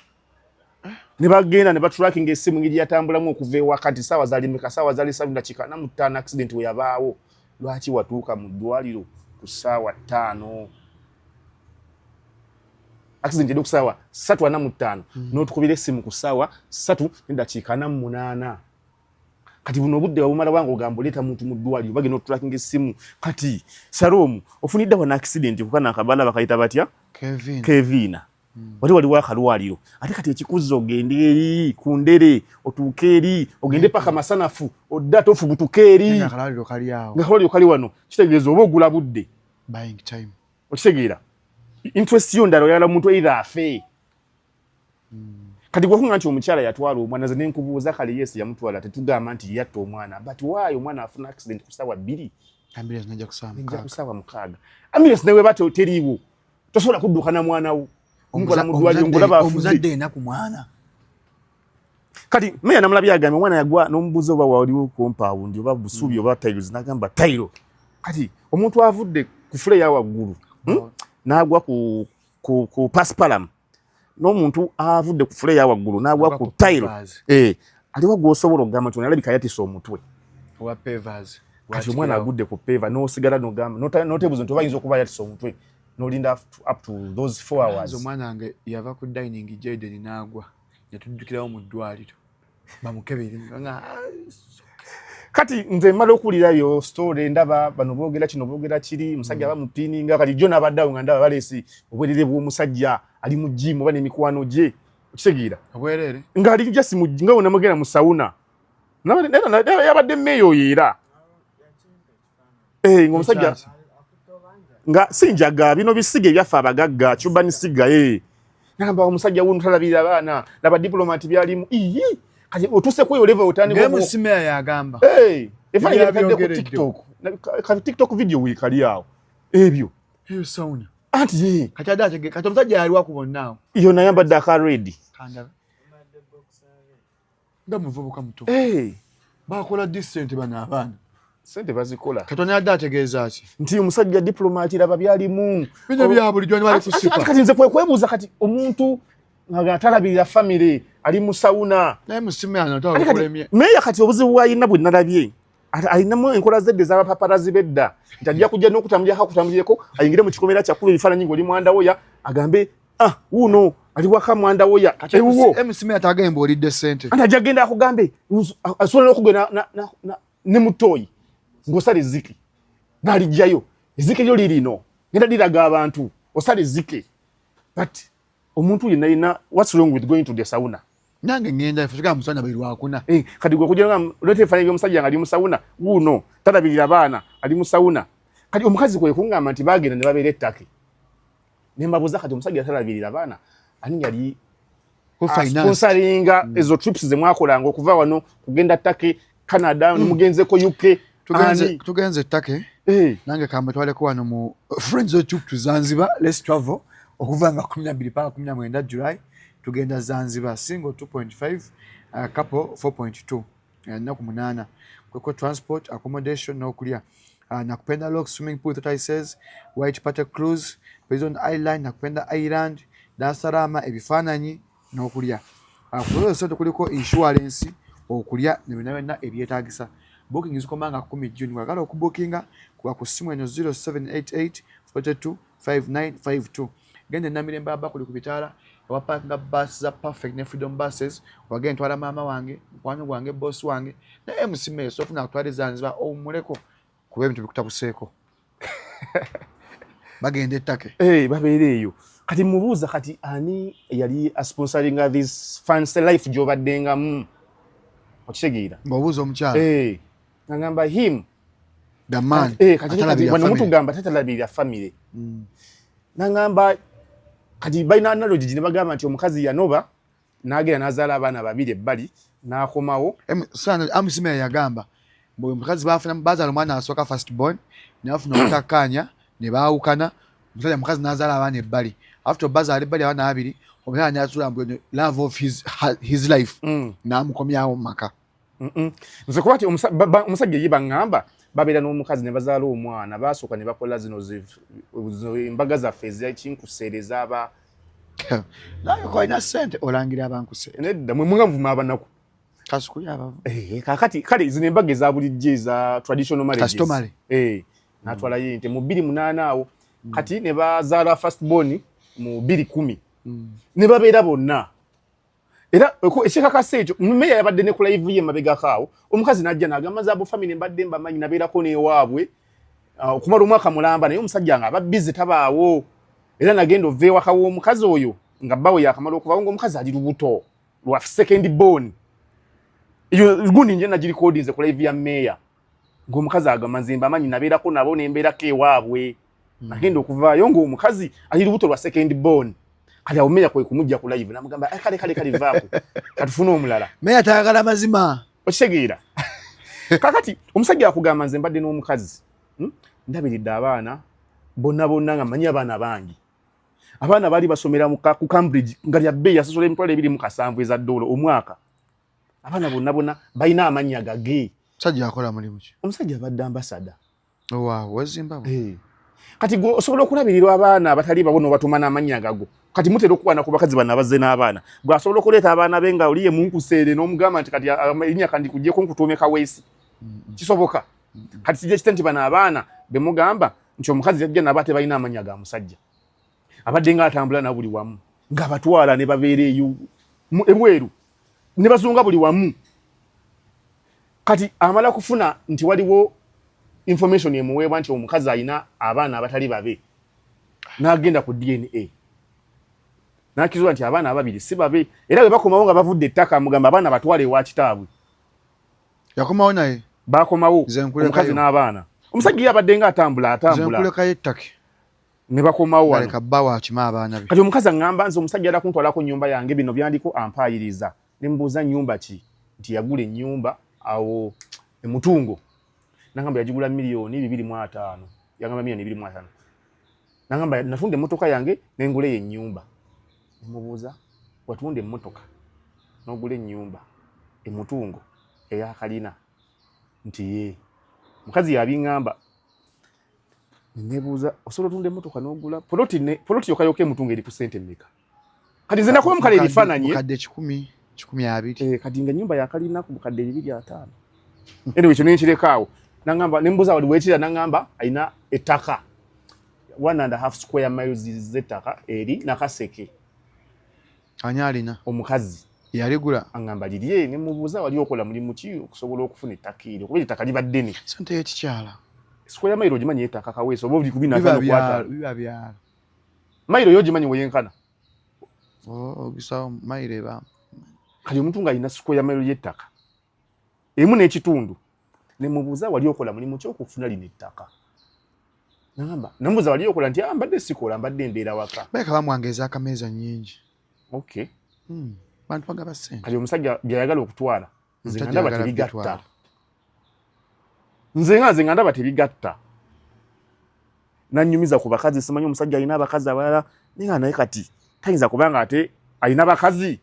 [SPEAKER 1] ne bagenda ne batrackinga essimu ngeri yatambulamu okuva ewakati saawa zali meka saawa zali salu dakika na mutaano accident we yabaawo lwaki watuuka mu ddwaliro ku saawa ttaano accident yadde ku saawa satu ana mu ttaano hmm. n'otukubira essimu ku saawa satu ne dakiika ana mu munaana kati buno obudde wabumala wange ogamba oleeta muntu mu ddwaliro bagenda otulakinga essimu kati shalom ofunidde wana accident kukana akabaala bakayita batya kevina hmm. wali waliwo akalwaliro ate kati ekikuzza ogende eri ku ndere otuuke eri ogende hmm. paka masanafu odde ate ofubutuke eri nga
[SPEAKER 2] akalwaliro kali wano
[SPEAKER 1] kitegeeza oba ogula budde
[SPEAKER 2] okitegeera
[SPEAKER 1] interest yo ndala oyala muntu either afe kati gwakunga nti omukyala yatwala omwana nze nenkubuuza kale yes yamutwala tetugamba nti yatta omwana but why omwana afuna accident ku ssaawa bbiri
[SPEAKER 2] kusaawa mukaaga
[SPEAKER 1] ambulance nawe ba teriiwo tosobola kudduka na mwana wo omukola mu ddwaliro ngolaba omuzadde enaku mwana kati meya namulabye agambye omwana yagwa n'omubuuza oba waliwo compound oba busuubi mm. oba tiles nagamba tile kati omuntu avudde ku fule ya waggulu hmm? n'agwa ku pasipalam n'omuntu avudde ku fule yawaggulu n'agwa ku tayiro eh, aliwo gwosobola okugamba nti alabika yatisa omutwe
[SPEAKER 2] kati omwana agudde
[SPEAKER 1] ku peva nosigala nogamba notebuza nti obayinza okuba yatisa omutwe nolinda up to those four hours omwana wange yava
[SPEAKER 2] ku dining jaden n'agwa netujjukirawo mu ddwaliro
[SPEAKER 1] kati nze mmala okuwulira yo story ndaba bano boogera kino boogera kiri musajja mm. bamupininga kati jjo nabaddeawo nga ndaba baleesi obwerere bw'omusajja ali mu jimu oba n'emikwano gye okitegeera obwerere ng'ali
[SPEAKER 2] jasi
[SPEAKER 1] nga wonamugenda mu sawuna yabadde meeyo oyo era eh ngo musajja nga sinjaga bino bisige byaffe abagagga cuba ni siga eh namba omusajja wunu talabira bana laba diplomati byalimu iyi kati otuse kuyo level otani ngo ngemu sime ya agamba
[SPEAKER 2] eh efa ya
[SPEAKER 1] kade ku tiktok ka tiktok video wi kali yao ebyo hiyo sauna
[SPEAKER 2] anti ye kati
[SPEAKER 1] ada chege kati
[SPEAKER 2] omusajja yali wakubona iyo nayamba dakar
[SPEAKER 1] ready kanda
[SPEAKER 2] nga muvubuka muto eh. bakola di sente bano abaana sente bazikola
[SPEAKER 1] katonda yadde ategeeza
[SPEAKER 2] ki nti omusajja diplomati
[SPEAKER 1] laba byalimu bino bya bulijjo
[SPEAKER 2] ni bali kusipa kati nze kwe kwebuuza kati
[SPEAKER 1] omuntu nga atalabirira famire ali mu sawuna naye musimu yana
[SPEAKER 2] tawakulemye meeya kati obuzibu
[SPEAKER 1] bwalina bwe nalabye alinamu enkola zedde zabapaparazi bedda nti ajja kujja nokutambulyako akutambulireko ayingire mu kikomera kyakuba ebifaananyi ngaoli mwandawoya agambe ah wuuno ali waka mwandawoya kati ewuwo msimi atagaye mbu olidde
[SPEAKER 2] sente anti ajja kugenda akugambe
[SPEAKER 1] asobola nokugenda ne mutoyi ngosala eziki nalijjayo ezike lyo lirino ngenda liraga abantu osala ezike but omuntu yenna yenna what's wrong with going to the sauna nange ngenda fika
[SPEAKER 2] musana bali lwakuna eh kati gwe kujira ngam
[SPEAKER 1] lete fanya yo musajja ngali musauna uno tata bilira bana ali musauna kati omukazi kwe kunga amanti bagenda ne babere taki ne mbabuza kati omusajja tata bilira bana ani yali ko finance sponsoringa mm. ezo trips ze mwakola ngo kuva wano kugenda taki Canada mm. mugenze ko UK tugenze tugenze
[SPEAKER 2] take hey. Eh. nange kambe twale ko wano mu friends of to Zanzibar let's travel okuva nga 12 paka 19 July tugenda Zanzibar single 2.5 uh, couple 4.2 ennaku munaana kweko transport accommodation n'okulya uh, nakupenda lok swimming pool that i says white party cruise prison island nakupenda island dasarama ebifaananyi n'okulya kuzo sente kuliko insurance okulya nebyonna byonna ebyetagisa booking zikoma nga kumi june wagala okubookinga kuba ku ssimu eno 0788 42 5952 genda enamirembe aba kuli ku bitaala ewa parkinga bus za perfect ne freedom buses wagenda ntwala maama wange mukwano gwange boss wange naye musimeyo sofuna kutwala ezanziba owumuleko kuba ebintu bikutabuseeko bagenda ettake eh, babeera eyo
[SPEAKER 1] kati mubuuza kati ani yali asponsoringa this fancy life gyobaddengamu okitegeera ngaobuuza omukyala
[SPEAKER 2] eh, agamba
[SPEAKER 1] him eh,
[SPEAKER 2] wano mutugamba
[SPEAKER 1] tatalabirira famire mm. nagamba kati balina analogi gye ne bagamba nti omukazi yanoba n'agenda n'azaala abaana babiri ebbali n'akomawo amusimera
[SPEAKER 2] yagamba buli mukazi bafuna bazaala omwana asooka first born nafuna obutakkaanya ne baawukana omusajja mukazi n'azaala abaana ebbali after bazaala ebbali abaana babiri omusajja n'atula mbu love of his, his life mm. n'amukomyawo mu maka nze
[SPEAKER 1] kuba ti omusajja ye baŋŋamba babeera n'omukazi ne bazaala omwana baasooka ne bakola zino embaga zaffe ezakinkuse ezaaba
[SPEAKER 2] naye kolina sente olangira abankuse nedda mwe muga muvuma
[SPEAKER 1] abanaku eh,
[SPEAKER 2] kakati kale
[SPEAKER 1] zino embaga eza bulijjo eza traditional marriagestomale eh, natwalayo ente mu bbiri munaana awo mm. kati ne bazaala first born mu bbiri kumi mm. ne babeera bonna era ekikakasa ekyo meya yabadde ne ku live ye mabegako awo omukazi najja nagamba zaabo famire mbadde mbamanyi nabeerako newaabwe ah, okumala omwaka mulamba naye omusajja nga aba bize tabaawo era nagenda ova ewaka w'omukazi oyo nga bbawe yakamala okuvawo ngaomukazi ali lubuto lwa second bon gundi nje nagirikodinze ku live ya meya ng'omukazi ago amazimba amanyi nabeerako nabo nembeerako ewaabwe hmm. nagenda okuvaayo ng'omukazi ali lubuto lwa second born kati awo meya kwe kumujja ku live namugamba eh, kale kale kale vaako katufune omulala meya tayagala mazima
[SPEAKER 2] okitegeera
[SPEAKER 1] kakati omusajja akugamba nze mbadde n'omukazi hmm? ndabiridde abaana bonna bonna nga manyi abaana bangi abaana baali basomera ku cambridge nga lya bbeeyi yasosola emitwalo ebiri mu kasanvu eza doola omwaka abaana bonna bonna balina amannya gage musajja akola mulimu
[SPEAKER 2] ki omusajja abadde ambasada
[SPEAKER 1] owaawo
[SPEAKER 2] wezimbabwe eh. kati gwe
[SPEAKER 1] osobola okulabirirwa abaana abatali babo nobatuma n'amannya gago kati mutera okukwana ku bakazi bano abazze n'abaana gwe asobola okuleeta abaana be nga oliye munkuseere n'omugamba nti kati erinnya kandi kujjeko nkutuume kaweesi kisoboka kati kijja kite nti bano abaana bemugamba nti omukazi yajja naba tebalina amannya ga musajja abadde nga atambula na buli wamu nga batwala ne babeera eyo ebweru ne bazunga buli wamu kati amala kufuna nti waliwo information emuweebwa nti omukazi alina abaana abatali babe n'agenda ku dna n'akizuula nti abaana ababiri si babe era bwe bakomawo nga bavudde ettaka mugamba abaana batwale ewa kitaabwe
[SPEAKER 2] yakomawo naye bakomawo
[SPEAKER 1] omukazi n'abaana omusajja yabadde nga atambula atambula
[SPEAKER 2] ne bakomawo
[SPEAKER 1] wano leka bba wakima abaana
[SPEAKER 2] be kati omukazi aŋŋamba nze
[SPEAKER 1] omusajja yala kuntwalako nnyumba yange bino byandiko ampaayiriza ne mubuuza nnyumba ki nti yagula ennyumba awo emutungo nagamba yagigula miliyoni bibiri mu ataano yagamba miliyoni bibiri mu ataano nagamba natunda emmotoka yange nengula eyo ennyumba ne mubuuza watunda emmotoka n'ogula ennyumba emutungo eyakalina nti ye mukazi yabiŋŋamba nebuuza osobola otunda emotoka nogula poloti ne poloti yokayoka emutunga eri ku sente mmeka kati nze nakuba mukale ebifaananyi kadde kikumi
[SPEAKER 2] kikumi abiri eh, kati nga nyumba
[SPEAKER 1] yakalina ku bukadde bibiri ataano eno ekyo nenkirekaawo nangamba nembuuza wali wekira nangamba alina ettaka one and a half square miles z'ettaka eri nakaseke
[SPEAKER 2] ani alina omukazi
[SPEAKER 1] yaligula angamba
[SPEAKER 2] lirye ne
[SPEAKER 1] mubuuza wali okola mulimu ki okusobola okufuna ettaka eryo kuba ettaka liba ddene sente y'ekikyala
[SPEAKER 2] sikoya mayiro
[SPEAKER 1] ogimanyi ettaka kaweesa oba obuli kubina biba byala
[SPEAKER 2] mayiro yo
[SPEAKER 1] ogimanyi weyenkana oh,
[SPEAKER 2] ogisawo mayiro eba kati omuntu
[SPEAKER 1] ng'alina sikoya mayiro y'ettaka emu n'ekitundu ne mubuuza wali okola mulimu ki okufuna lino ettaka namba namubuuza wali okola nti ah, mbadde sikola mbadde mbeera waka baleka bamwanga ez'akameeza
[SPEAKER 2] nnyingi okay
[SPEAKER 1] hmm,
[SPEAKER 2] bantu bagaba sente kati omusajja byayagala
[SPEAKER 1] okutwala nze nga ndaba tebigatta nze nga nze nga ndaba tebigatta nanyumiza ku bakazi simanyi omusajja alina abakazi abalala naye nga naye kati tayinza kubanga ate alina bakazi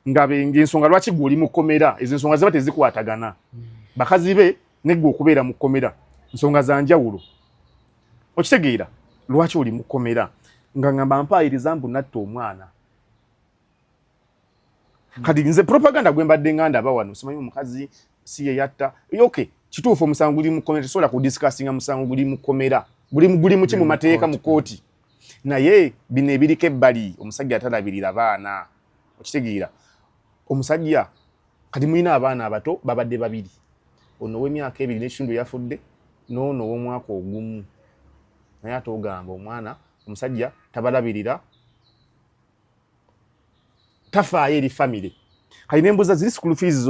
[SPEAKER 1] nga ngensonga lwaki gwe oli mu kkomera ezo ensonga ziba tezikwatagana hmm. bakazi be neggwe okubeera mu kkomera nsonga za njawulo okitegeera lwaki oli mu kkomera nga ngamba mpaayiriza mbu natta omwana hmm. kati nze propaganda gwe mbadde nganda aba wano simanyi omukazi si ye yatta okay kituufu omusango guli mu kkomera tesobola kudisikasinga musango guli mu kkomera guli mu ki mu mateeka mu kkooti naye bino ebiriko ebbali omusajja atalabirira baana okitegeera omusajja kati mulina abaana abato babadde babiri ono owemyaka ebiri nekitundu yafudde noono owomwaka ogumu naye ate ogamba omwana omusajja tabalabirira tafaayo eri famire kati nembuuza ziri school fees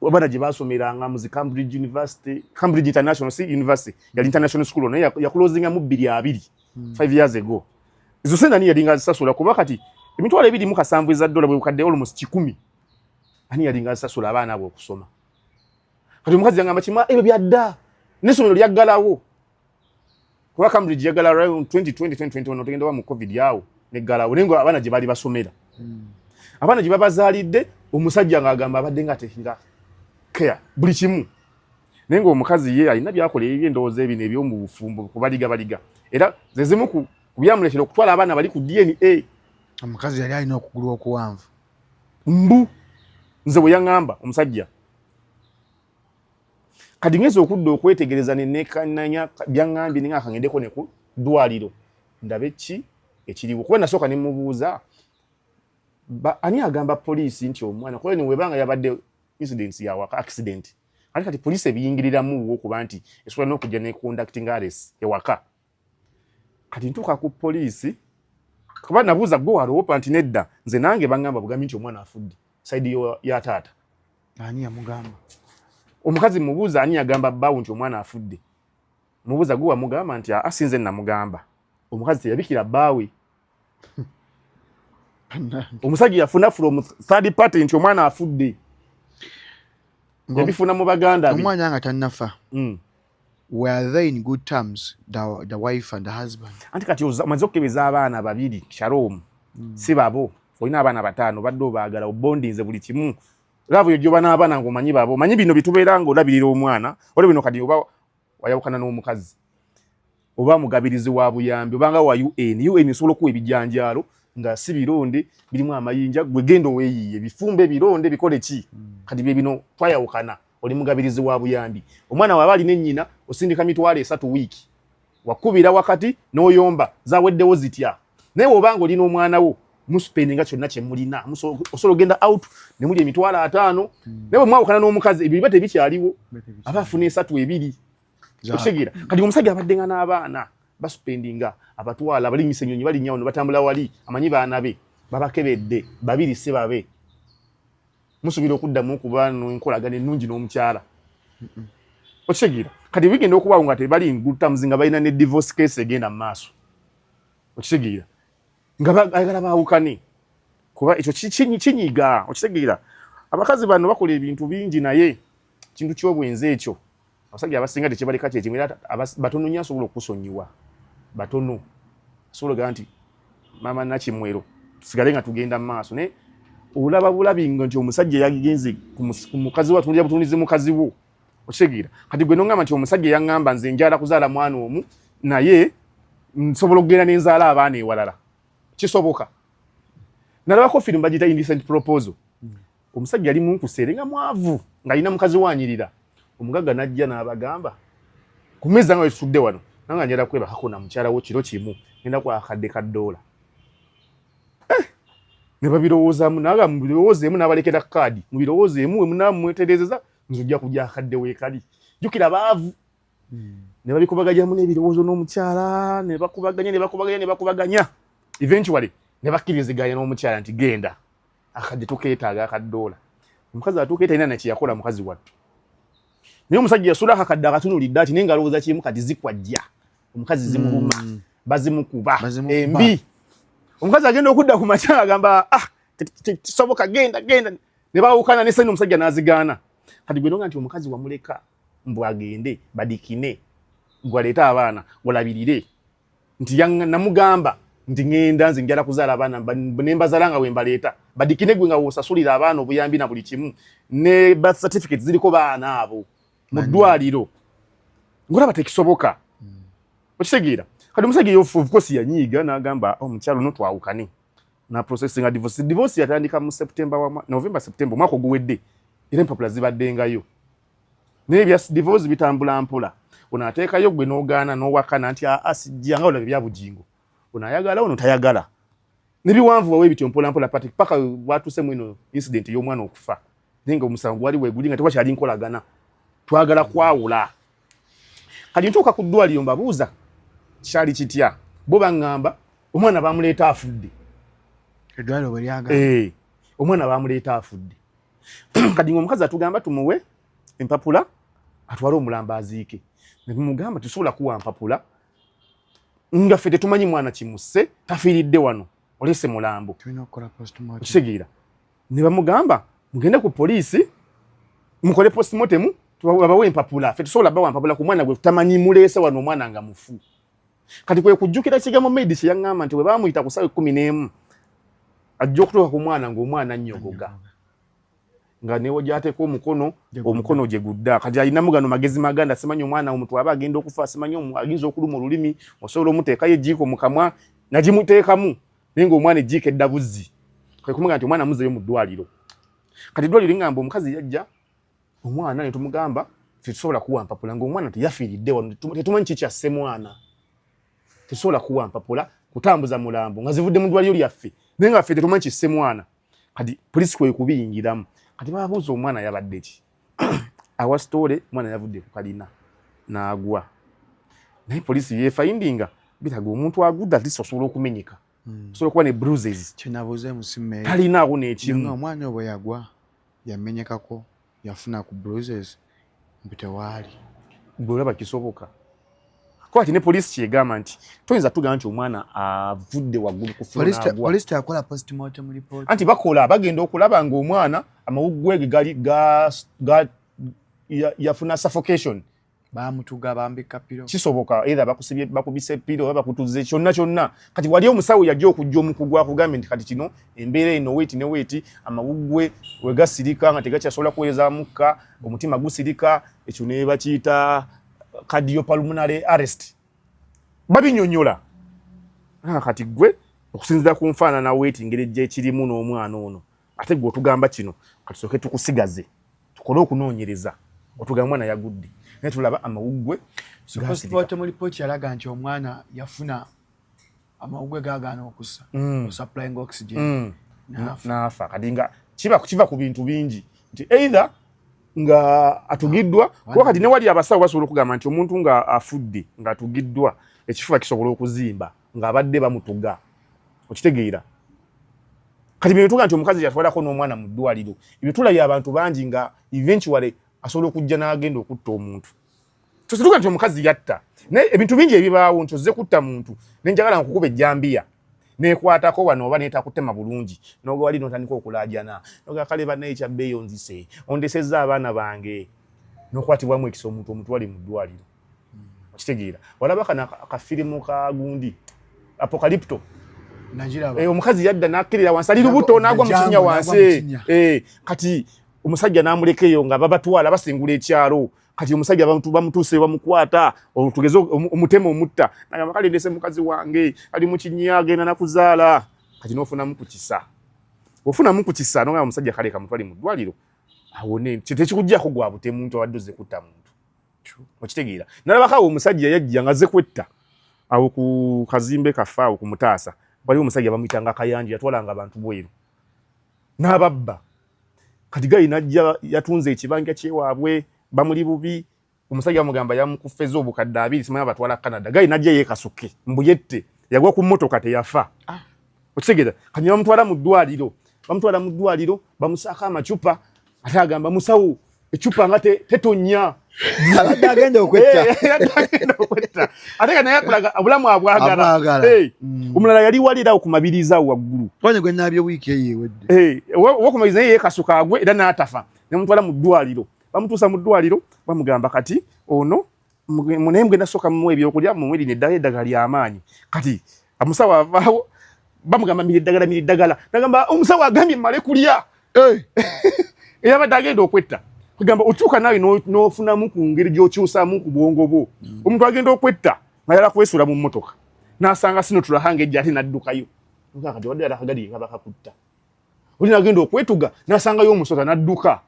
[SPEAKER 1] abaana gye baasomeranga muzi cambridge university cambridge international si university yali international school naye yakulozingamu bbiri abiri hmm. five years ago ezo sente ani yalinga azisasula kuba kati emitwalo ebiri mu kasanvu eza dola bwe bukadde almost kikumi ani yalinga azisasula abaana abo okusoma kati omukazi yangamba kima ebyo byadda n'essomero lyaggalawo kuba Cambridge yagala around 2020 2021 otugenda mu covid yawo ne galawo nengo abana je bali basomera mm. abana je babazalide omusajja nga agamba abadde nga tehira care buli kimu nengo omukazi ye alina byakola ebye ndoze ebine ebyo mu bufumbo kubaliga baliga era zezimu ku kubyamulekera okutwala abana bali ku DNA omukazi yali
[SPEAKER 2] alina okugulu okuwanvu mbu
[SPEAKER 1] nze bwe yangamba omusajja kati ngezi okudda okwetegereza nenekananya byaŋambye ninga akangendeko ne ku ddwaliro ndabe ki ekiriwo kuba nasooka ne mubuuza ani agamba poliisi nti omwana kuba ni webanga yabadde incidents yawaka accident ate kati poliisi ebiyingiriramu okuba nti esobola n'okujja ne conducting ares ewaka kati ntuuka ku poliisi kuba nabuuza gwe waloopa nti nedda nze nange bangamba bugambi nti omwana afudde saidi ya taata ani
[SPEAKER 2] yamugamba omukazi
[SPEAKER 1] mubuuza ani yagamba bbawo nti omwana afudde mubuuza gwe wamugamba nti asinze namugamba omukazi teyabikira bbaawe omusajja yafuna from third party nti omwana afudde yabifuna mu baganda omwana nga tanafa
[SPEAKER 2] mm. were they in good terms the, the wife and the husband anti kati omaze
[SPEAKER 1] okukebeza abaana babiri shalom mm. si babo olina abaana bataano badde obaagala obondinze buli kimu laavu yo gyoba n'abaana ngaomanyi babo manyi bino bitubeera nga olabirira omwana olwo bino kati oba wayawukana n'omukazi oba mugabirizi wa buyambi obanga wa un un esobola okuwa ebijanjaalo nga si bironde birimu amayinja gwegenda oweyiye bifumbe bironde bikole ki mm. kati byebino twayawukana mm. oli mugabirizi wa buyambi omwana waba alina ennyina osindika mitwalo esatu wiiki wakubira wakati n'oyomba zaweddewo zitya naye wobanga olina omwana wo muspendi nga kyonna kyemulina osobola ogenda out nemuli emitwalo ataano hmm. naye bwemwawukana n'omukazi ebyo biba tebikyaliwo aba afuna esatu ebiri okitegeera kati omusajja abadde nga n'abaana basupendinga abatwala balinyisa enyonyi balinyawuno batambula wali amanyi baana be babakebedde babiri si babe musuubira okuddamu okuba nenkolagana ennungi n'omukyala okitegeera kati bigenda okubaawo nga tebali ngutamuzi nga balina ne divorce case egenda mu maaso okitegeera nga bagala baawukane kuba ekyo kinyiga okitegeera abakazi bano bakola ebintu bingi naye kintu kyobwenzi ekyo abasajja abasinga tekyebaleka kyekimu era batono nyo asobola okusonyiwa batono asobola ogaa nti mama nakimwero tusigale nga tugenda mu maaso naye olaba bulabi nga nti omusajja yagenze ku mukazi wo atunulira butunulizi mukazi wo okitegeera kati gwe nongamba nti omusajja yaŋŋamba nze njala kuzaala mwana omu naye nsobola okugenda nenzaala abaana ewalala kisoboka nalabako firimu bagiyita indecent proposal Omusajja yali munkuseere nga mwavu ng'alina mukazi wanyirira. Omugagga n'ajja n'abagamba ku mmeeza nga wetutudde wano nanga njala kwebakako na mukyala wo kiro kimu ngenda kwa akadde ka ddoola eh! ne babirowoozaamu naga mubirowoozeemu n'abalekera kaadi mubirowoozeemu we munaa mwetereezeza nze ojja kugya akadde weekali jjukira baavu hmm. ne babikubagajamu n'ebirowoozo n'omukyala ne bakubaganya ne bakubaganya ne bakubaganya eventually ne bakkiriziganya n'omukyala nti genda akadde tukeetaaga akaddoola omukazi atuuka etalina nakiyakola mukazi wattu naye omusajja yasula akakadde akatunulidde ati naye nga alowooza kimu kati zikwajja omukazi zimuluma hmm. bazimukuba embi omukazi agenda okudda ku makyala agamba ah kisoboka genda genda ne bawukana ne sani omusajja n'azigaana kati gwe nonga nti omukazi wamuleka mbu agende badikine gwaleeta abaana gwalabirire nti yanga namugamba nti ngenda nze njala kuzala abana nemba zalanga wemba leta badikine gwe nga wosasulira abana obuyambi na buli kimu ne birth certificate ziliko baana abo mu ddwaliro ngora batekisoboka mm. okitegeera kati omusajja of course yanyiiga n'agamba omukyalo oh, no twawukane na processing a divorce divorce yatandika mu september wa november september omwaka oguwedde era empapula zibaddengayo naye ebya divorce bitambula mpola ono ateekayo gwe n'ogaana n'owakana nti aa sijja nga olaba ebya bugingo ono ayagala ono tayagala nebiwanvu wawe bityo mpola mpola pati paka watuse mwino incident y'omwana okufa naye nga omusango gwali weguli nga tewakyali nkolagana twagala kwawula kati ntuuka ku ddwaliro mbabuuza kyali kitya bo baŋŋamba omwana bamuleeta afudde eddwaliro
[SPEAKER 2] bwe lyagala eh, omwana
[SPEAKER 1] bamuleeta afudde kati ngaomukazi atugamba tumuwe empapula atwale omulambo aziike netumugamba tusobola kuwa mpapula nga ffe tetumanyi mwana kimusse tafiiridde wano olese mulambo okitegeera ne bamugamba mugende ku poliisi mukole postmortemu babawe empapula ffe tusobola bawa mpapula ku mwana gwe tutamanyi muleese wano omwana nga mufu kati kwe kujjukira kigambo maid kye yaŋŋamba nti bwe baamuyita ku ssaawa ekkumi n'emu ajja okutuuka ku mwana ng'omwana annyogoga nga newo gyateeka omukono omukono gye gudda kati alinamu gano magezi maganda simanyi omwana omuntu aba agenda okufa simanyi aginza okuluma olulimi osobola omuteekayo ejiiko mu kamwa nagimuteekamu naye ng'omwana ejiiko edda buzzi kwe kumuga nti omwana muzeeyo mu ddwaliro kati eddwaliro lingamba omukazi yajja omwana ne tumugamba tetusobola kuwa mpapula ng'omwana teyafiiridde wano tetumanyi ki kyasse mwana tetusobola kuwa mpapula kutambuza mulambo nga zivudde mu ddwaliro lyaffe naye nga ffe tetumanyi kisse mwana kati polisi kwekubiyingiramu kati babuuza omwana yabadde ki awa sitole omwana yavudde ku kalina n'agwa naye polisi yefayindinga biraga omuntu agudde atisa osobola okumenyeka hmm. osobola okuba ne bruises kyenabuuza emusimu
[SPEAKER 2] talinaawo nekimu
[SPEAKER 1] omwana obwe yagwa
[SPEAKER 2] yamenyekako yafuna ku bruises mbu tewaali gwe
[SPEAKER 1] olaba kisoboka kuba kati ne poliisi kyegamba nti toyinza tugamba nti omwana avudde waggulu
[SPEAKER 2] kufunaanti bakola bagenda
[SPEAKER 1] okulaba ngaomwana amawuggwege gali yafuna suffocation bamutuga
[SPEAKER 2] bambika piro kisoboka either bakusibye
[SPEAKER 1] bakubise piro oba bakutuze kyonna kyonna kati wali omusawo yajja okujja omukugu akugambye nti kati kino embeera eno weeti ne weeti amawuggwe we gasirika nga tegakyasobola kuweereza mukka omutima gusirika ekyo ne bakiyita cardiopulmonary arrest babinyonyola ah, kati gwe okusinzira ku nfaanana weeti ngeri gyekirimu n'omwana ono ate gwe otugamba kino katusooke tukusigaze tukole okunoonyereza otugamba mwana yagudde naye tulaba amawuggwe
[SPEAKER 2] temulipooti yalaga nti omwana yafuna amawuggwe gagaana okusa mm. osupplying oxygen mm. naafa
[SPEAKER 1] kati nga kiva ku bintu bingi nti either nga atugiddwa ah, kuba kati newali abasawo basobola okugamba nti omuntu nga afudde nga atugiddwa ekifuba kisobola okuzimba ng'abadde bamutuga okitegeera kati bino tuga nti omukazi yatwalako n'omwana mu ddwaliro ebyo tulabye abantu bangi nga eventually asobola okujja n'agenda okutta omuntu tosituka nti omukazi yatta naye ebintu bingi ebibaawo nti ozze kutta muntu nenjagala nkukuba ejjambiya nekwatako wano oba netakutema bulungi nogewali notandika okulaajana nogakale banaye kyabbeeyo nzise ondesezza abaana bange nokwatibwamu ekisa omuntu omutwali mu ddwaliro okitegeera walaba kana kafirimu ka gundi apokalipto eh, omukazi yadda nakkirira wansi ali lubuto nagwa mukinya wansi eh, kati omusajja namulekeyo nga babatwala basingula ekyalo kati omusajja abantu bamutuse bamukwata otugeze omutema omutta nagamba kale ndese mukazi wange ali mukinya agenda nakuzaala kati nofunamu kukisa ofunamu kukisa nogamba omusajja kale kamutwali mu ddwaliro awone tekikujjako gwa butemu nti abadde ozze kutta muntu okitegeera nalabako awo omusajja yajja nga azze kwetta awo ku kazimbe kaffe awo ku mutaasa waliwo omusajja bamuyitanga akayanja yatwalanga abantu bweru n'ababba kati gali najja yatunze ekibanja kyewaabwe bamuli bubi omusajja bamugamba yamukufeza obukadde abiri simanya batwala canada gali najja yekasuke mbuyette yagwa ku motoka teyafa ah. okitegera kanya bamutwala mu ddwaliro bamutwala mu ddwaliro bamusaako amacupa ate agamba musawo ecupa nga tetonya abadde
[SPEAKER 2] agenda okwetta eh, eh,
[SPEAKER 1] ate nga naye akulaga obulamu abwagala eh, mm. omulala yali walirawo ku mabiriza awo waggulu wanye gwe naabye wiiki
[SPEAKER 2] eyo ewedde owokumabiriza naye
[SPEAKER 1] yekasuka agwe era n'atafa nemutwala mu ddwaliro bamutuusa mu ddwaliro bamugamba kati ono naye mugenda soka muwa ebyokulya mumuwe lino eddagala eddagala lyamaanyi kati omusawo avaawo bamugamba mira eddagala mira eddagala nagamba omusawo agambye male kulya eh. eyabadde agenda okwetta kugamba otuuka naawe n'ofunamu ku ngeri gy'okyusamu ku bwongo bwo mm. omuntu agenda okwetta nga yala kwesuula mu mmotoka n'asanga sino tulahanga ejja ate n'addukayo kati wadde yalakagali kabakakutta oli nagenda okwetuga n'asangayo omusota n'adduka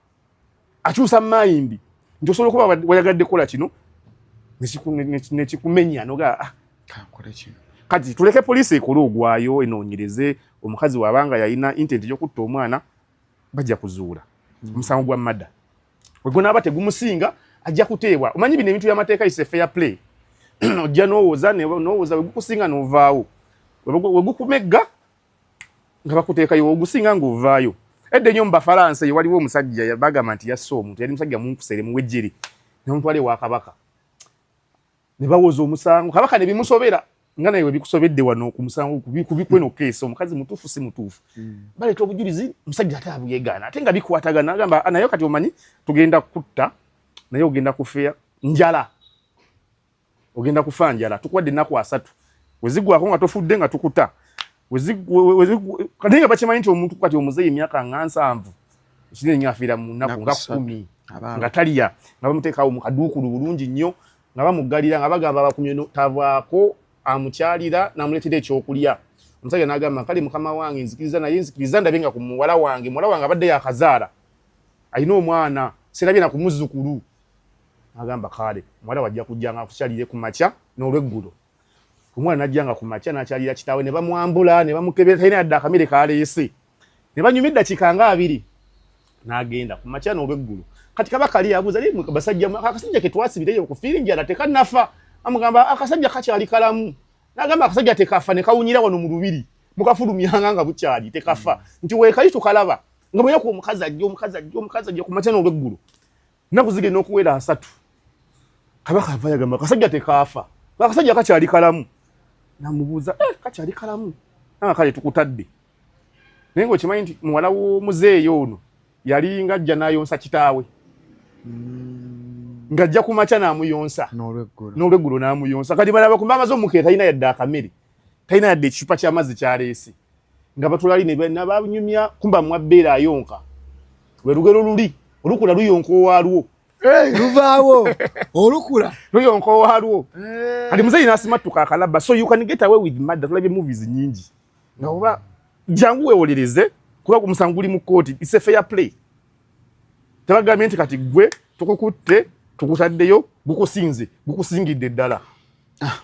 [SPEAKER 1] akyusa mayindi nti osobola okuba wayagadde kukola kino nekikumenya noga ah, kati tuleke poliisi ekole ogwayo enoonyereze omukazi wabanga yalina intent yokutta omwana bajja kuzuula mm. omusango gwa mada wegunaaba tegumusinga ajja kuteebwa omanyi bino ebintu byamateeka is a fair play ojja nowooza nowooza wegukusinga novaawo wegukumegga nga bakuteekayo ogusinga ng'ovaayo edda enyo mu bafalansa eyo waliwo omusajja bagamba nti yasse omuntu yali musajja munkusere muwejjere nomutwala ewa kabaka ne bawoza omusango kabaka ne bimusobera nga naye webikusobedde wano ku musango kubikweno keesa omukazi mutuufu si mutuufu hmm. baleeta obujulizi omusajja ate abuyegaana ate nga bikwatagana agamba ah, naye kati omanyi tugenda kutta naye ogenda kufeya njala ogenda kufa njala tukuwadde ennaku asatu wezigwako nga tofudde nga tukuta kati nga bakimanyi nti omuntu kati omuzeeyi emyaka nga nsanvu kinene nyo afiira mu nnaku nga kumi nga taliya nga bamuteekawo mu kaduukulu bulungi nnyo nga bamuggalira nga bagamba abakumye tavaako amukyalira namuleetera ekyokulya omusajja nagamba kale mukama wange nzikiriza naye nzikiriza ndabe nga ku muwala wange muwala wange abadde yakazaala alina omwana serabye na kumuzukulu agamba kaale muwala wajja kujja nga akukyalire ku makya n'olweggulo omwana najja nga ku makya n'akyalira kitaawe ne bamwambula ne bamukebera talina yadde akamere kaleese ne banyuma eddakiika nga abiri n'agenda ku makya n'olweggulo kati kaba kali abuuza naye basajja akasajja ke twasibireyo okufiira enjala tekannafa amugamba akasajja kakyali kalamu n'agamba akasajja tekafa ne kawunyira wano mu lubiri mukafulumyanga nga bukyali tekafa nti weekali tukalaba nga bweyaku omukazi ajja omukazi ajja omukazi ajja ku makya n'olweggulo nnaku zigenda okuwera asatu kabaka ava yagamba kasajja tekaafa akasajja kakyali kalamu namubuuza eh, kakyali kalamu nanga kale tukutadde naye nga okimanyi nti muwala w'omuzeeyi ono yali nga ajja nayonsa kitaawe mm. ng'ajja ku makya n'amuyonsa n'olweggulo n'amuyonsa kati balaba kumba amaze omukeeta alina yadde akamere talina yadde ekicupa ky'amazzi kyaleese nga batulali nebanyumya kumba mwabbeera ayonka lwe lugero luli olukula luyonka owaalwo eh, luvaawo
[SPEAKER 2] olukula luyonka owaalwo
[SPEAKER 1] eh. kati muzeyi nasimattuka akalaba so you can get away with madda tulabye movies nyingi nga oba jangu wewolereze kuba omusango guli mu kkooti its a fair play tebagambye nti kati gwe tukukutte tukutaddeyo gukusinze gukusingidde ddala ah,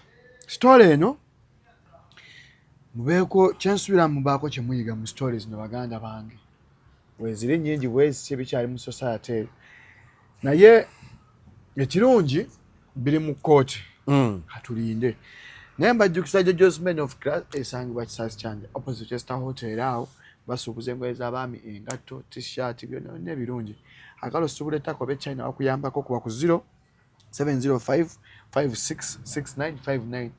[SPEAKER 2] sitole eno mubeeko kyensuubira mubaako kyemuyiga mu sitole zino baganda bange weziri nyingi bweziti ebikyali mu society eyo naye ekirungi biri mu kkooti mm. katulinde naye mbajjukisa jo josman of cras esangibwa kisasi kyanja opposite chester hotel awo basuubuza engoye z'abaami engatto tishirt byona byonna ebirungi akalo suubula ettaka oba echina wakuyambako kuba ku 0 705 566959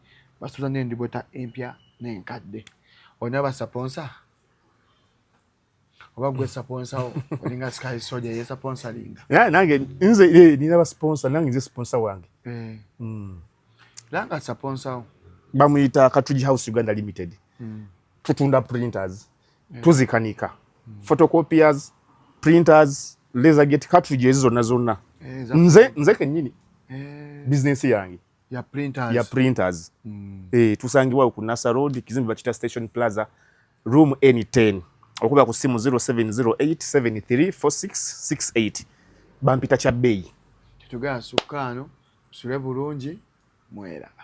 [SPEAKER 2] basuuza n'endibota empya n'enkadde olina basaponsa oba gwe sponsor wo olinga sky soja ye sponsor linga yeah nange nze
[SPEAKER 1] eh nina ba sponsor nange nze sponsor wange eh mm langa
[SPEAKER 2] sponsor bamuyita
[SPEAKER 1] katuji house uganda limited mm. tutunda printers yeah. tuzikanika mm. photocopiers printers laser gate cartridge ezo zonna zonna eh, nze nze kenyini eh. business yange ya printers, ya printers. Mm. E, tusangibwa ku Nasa Road kizimbe bakita Station Plaza room N10 okuba ku simu 0708734668 bampita kya
[SPEAKER 2] bbeeyi.
[SPEAKER 1] Tetugana
[SPEAKER 2] sukkaano tusule bulungi mweraba.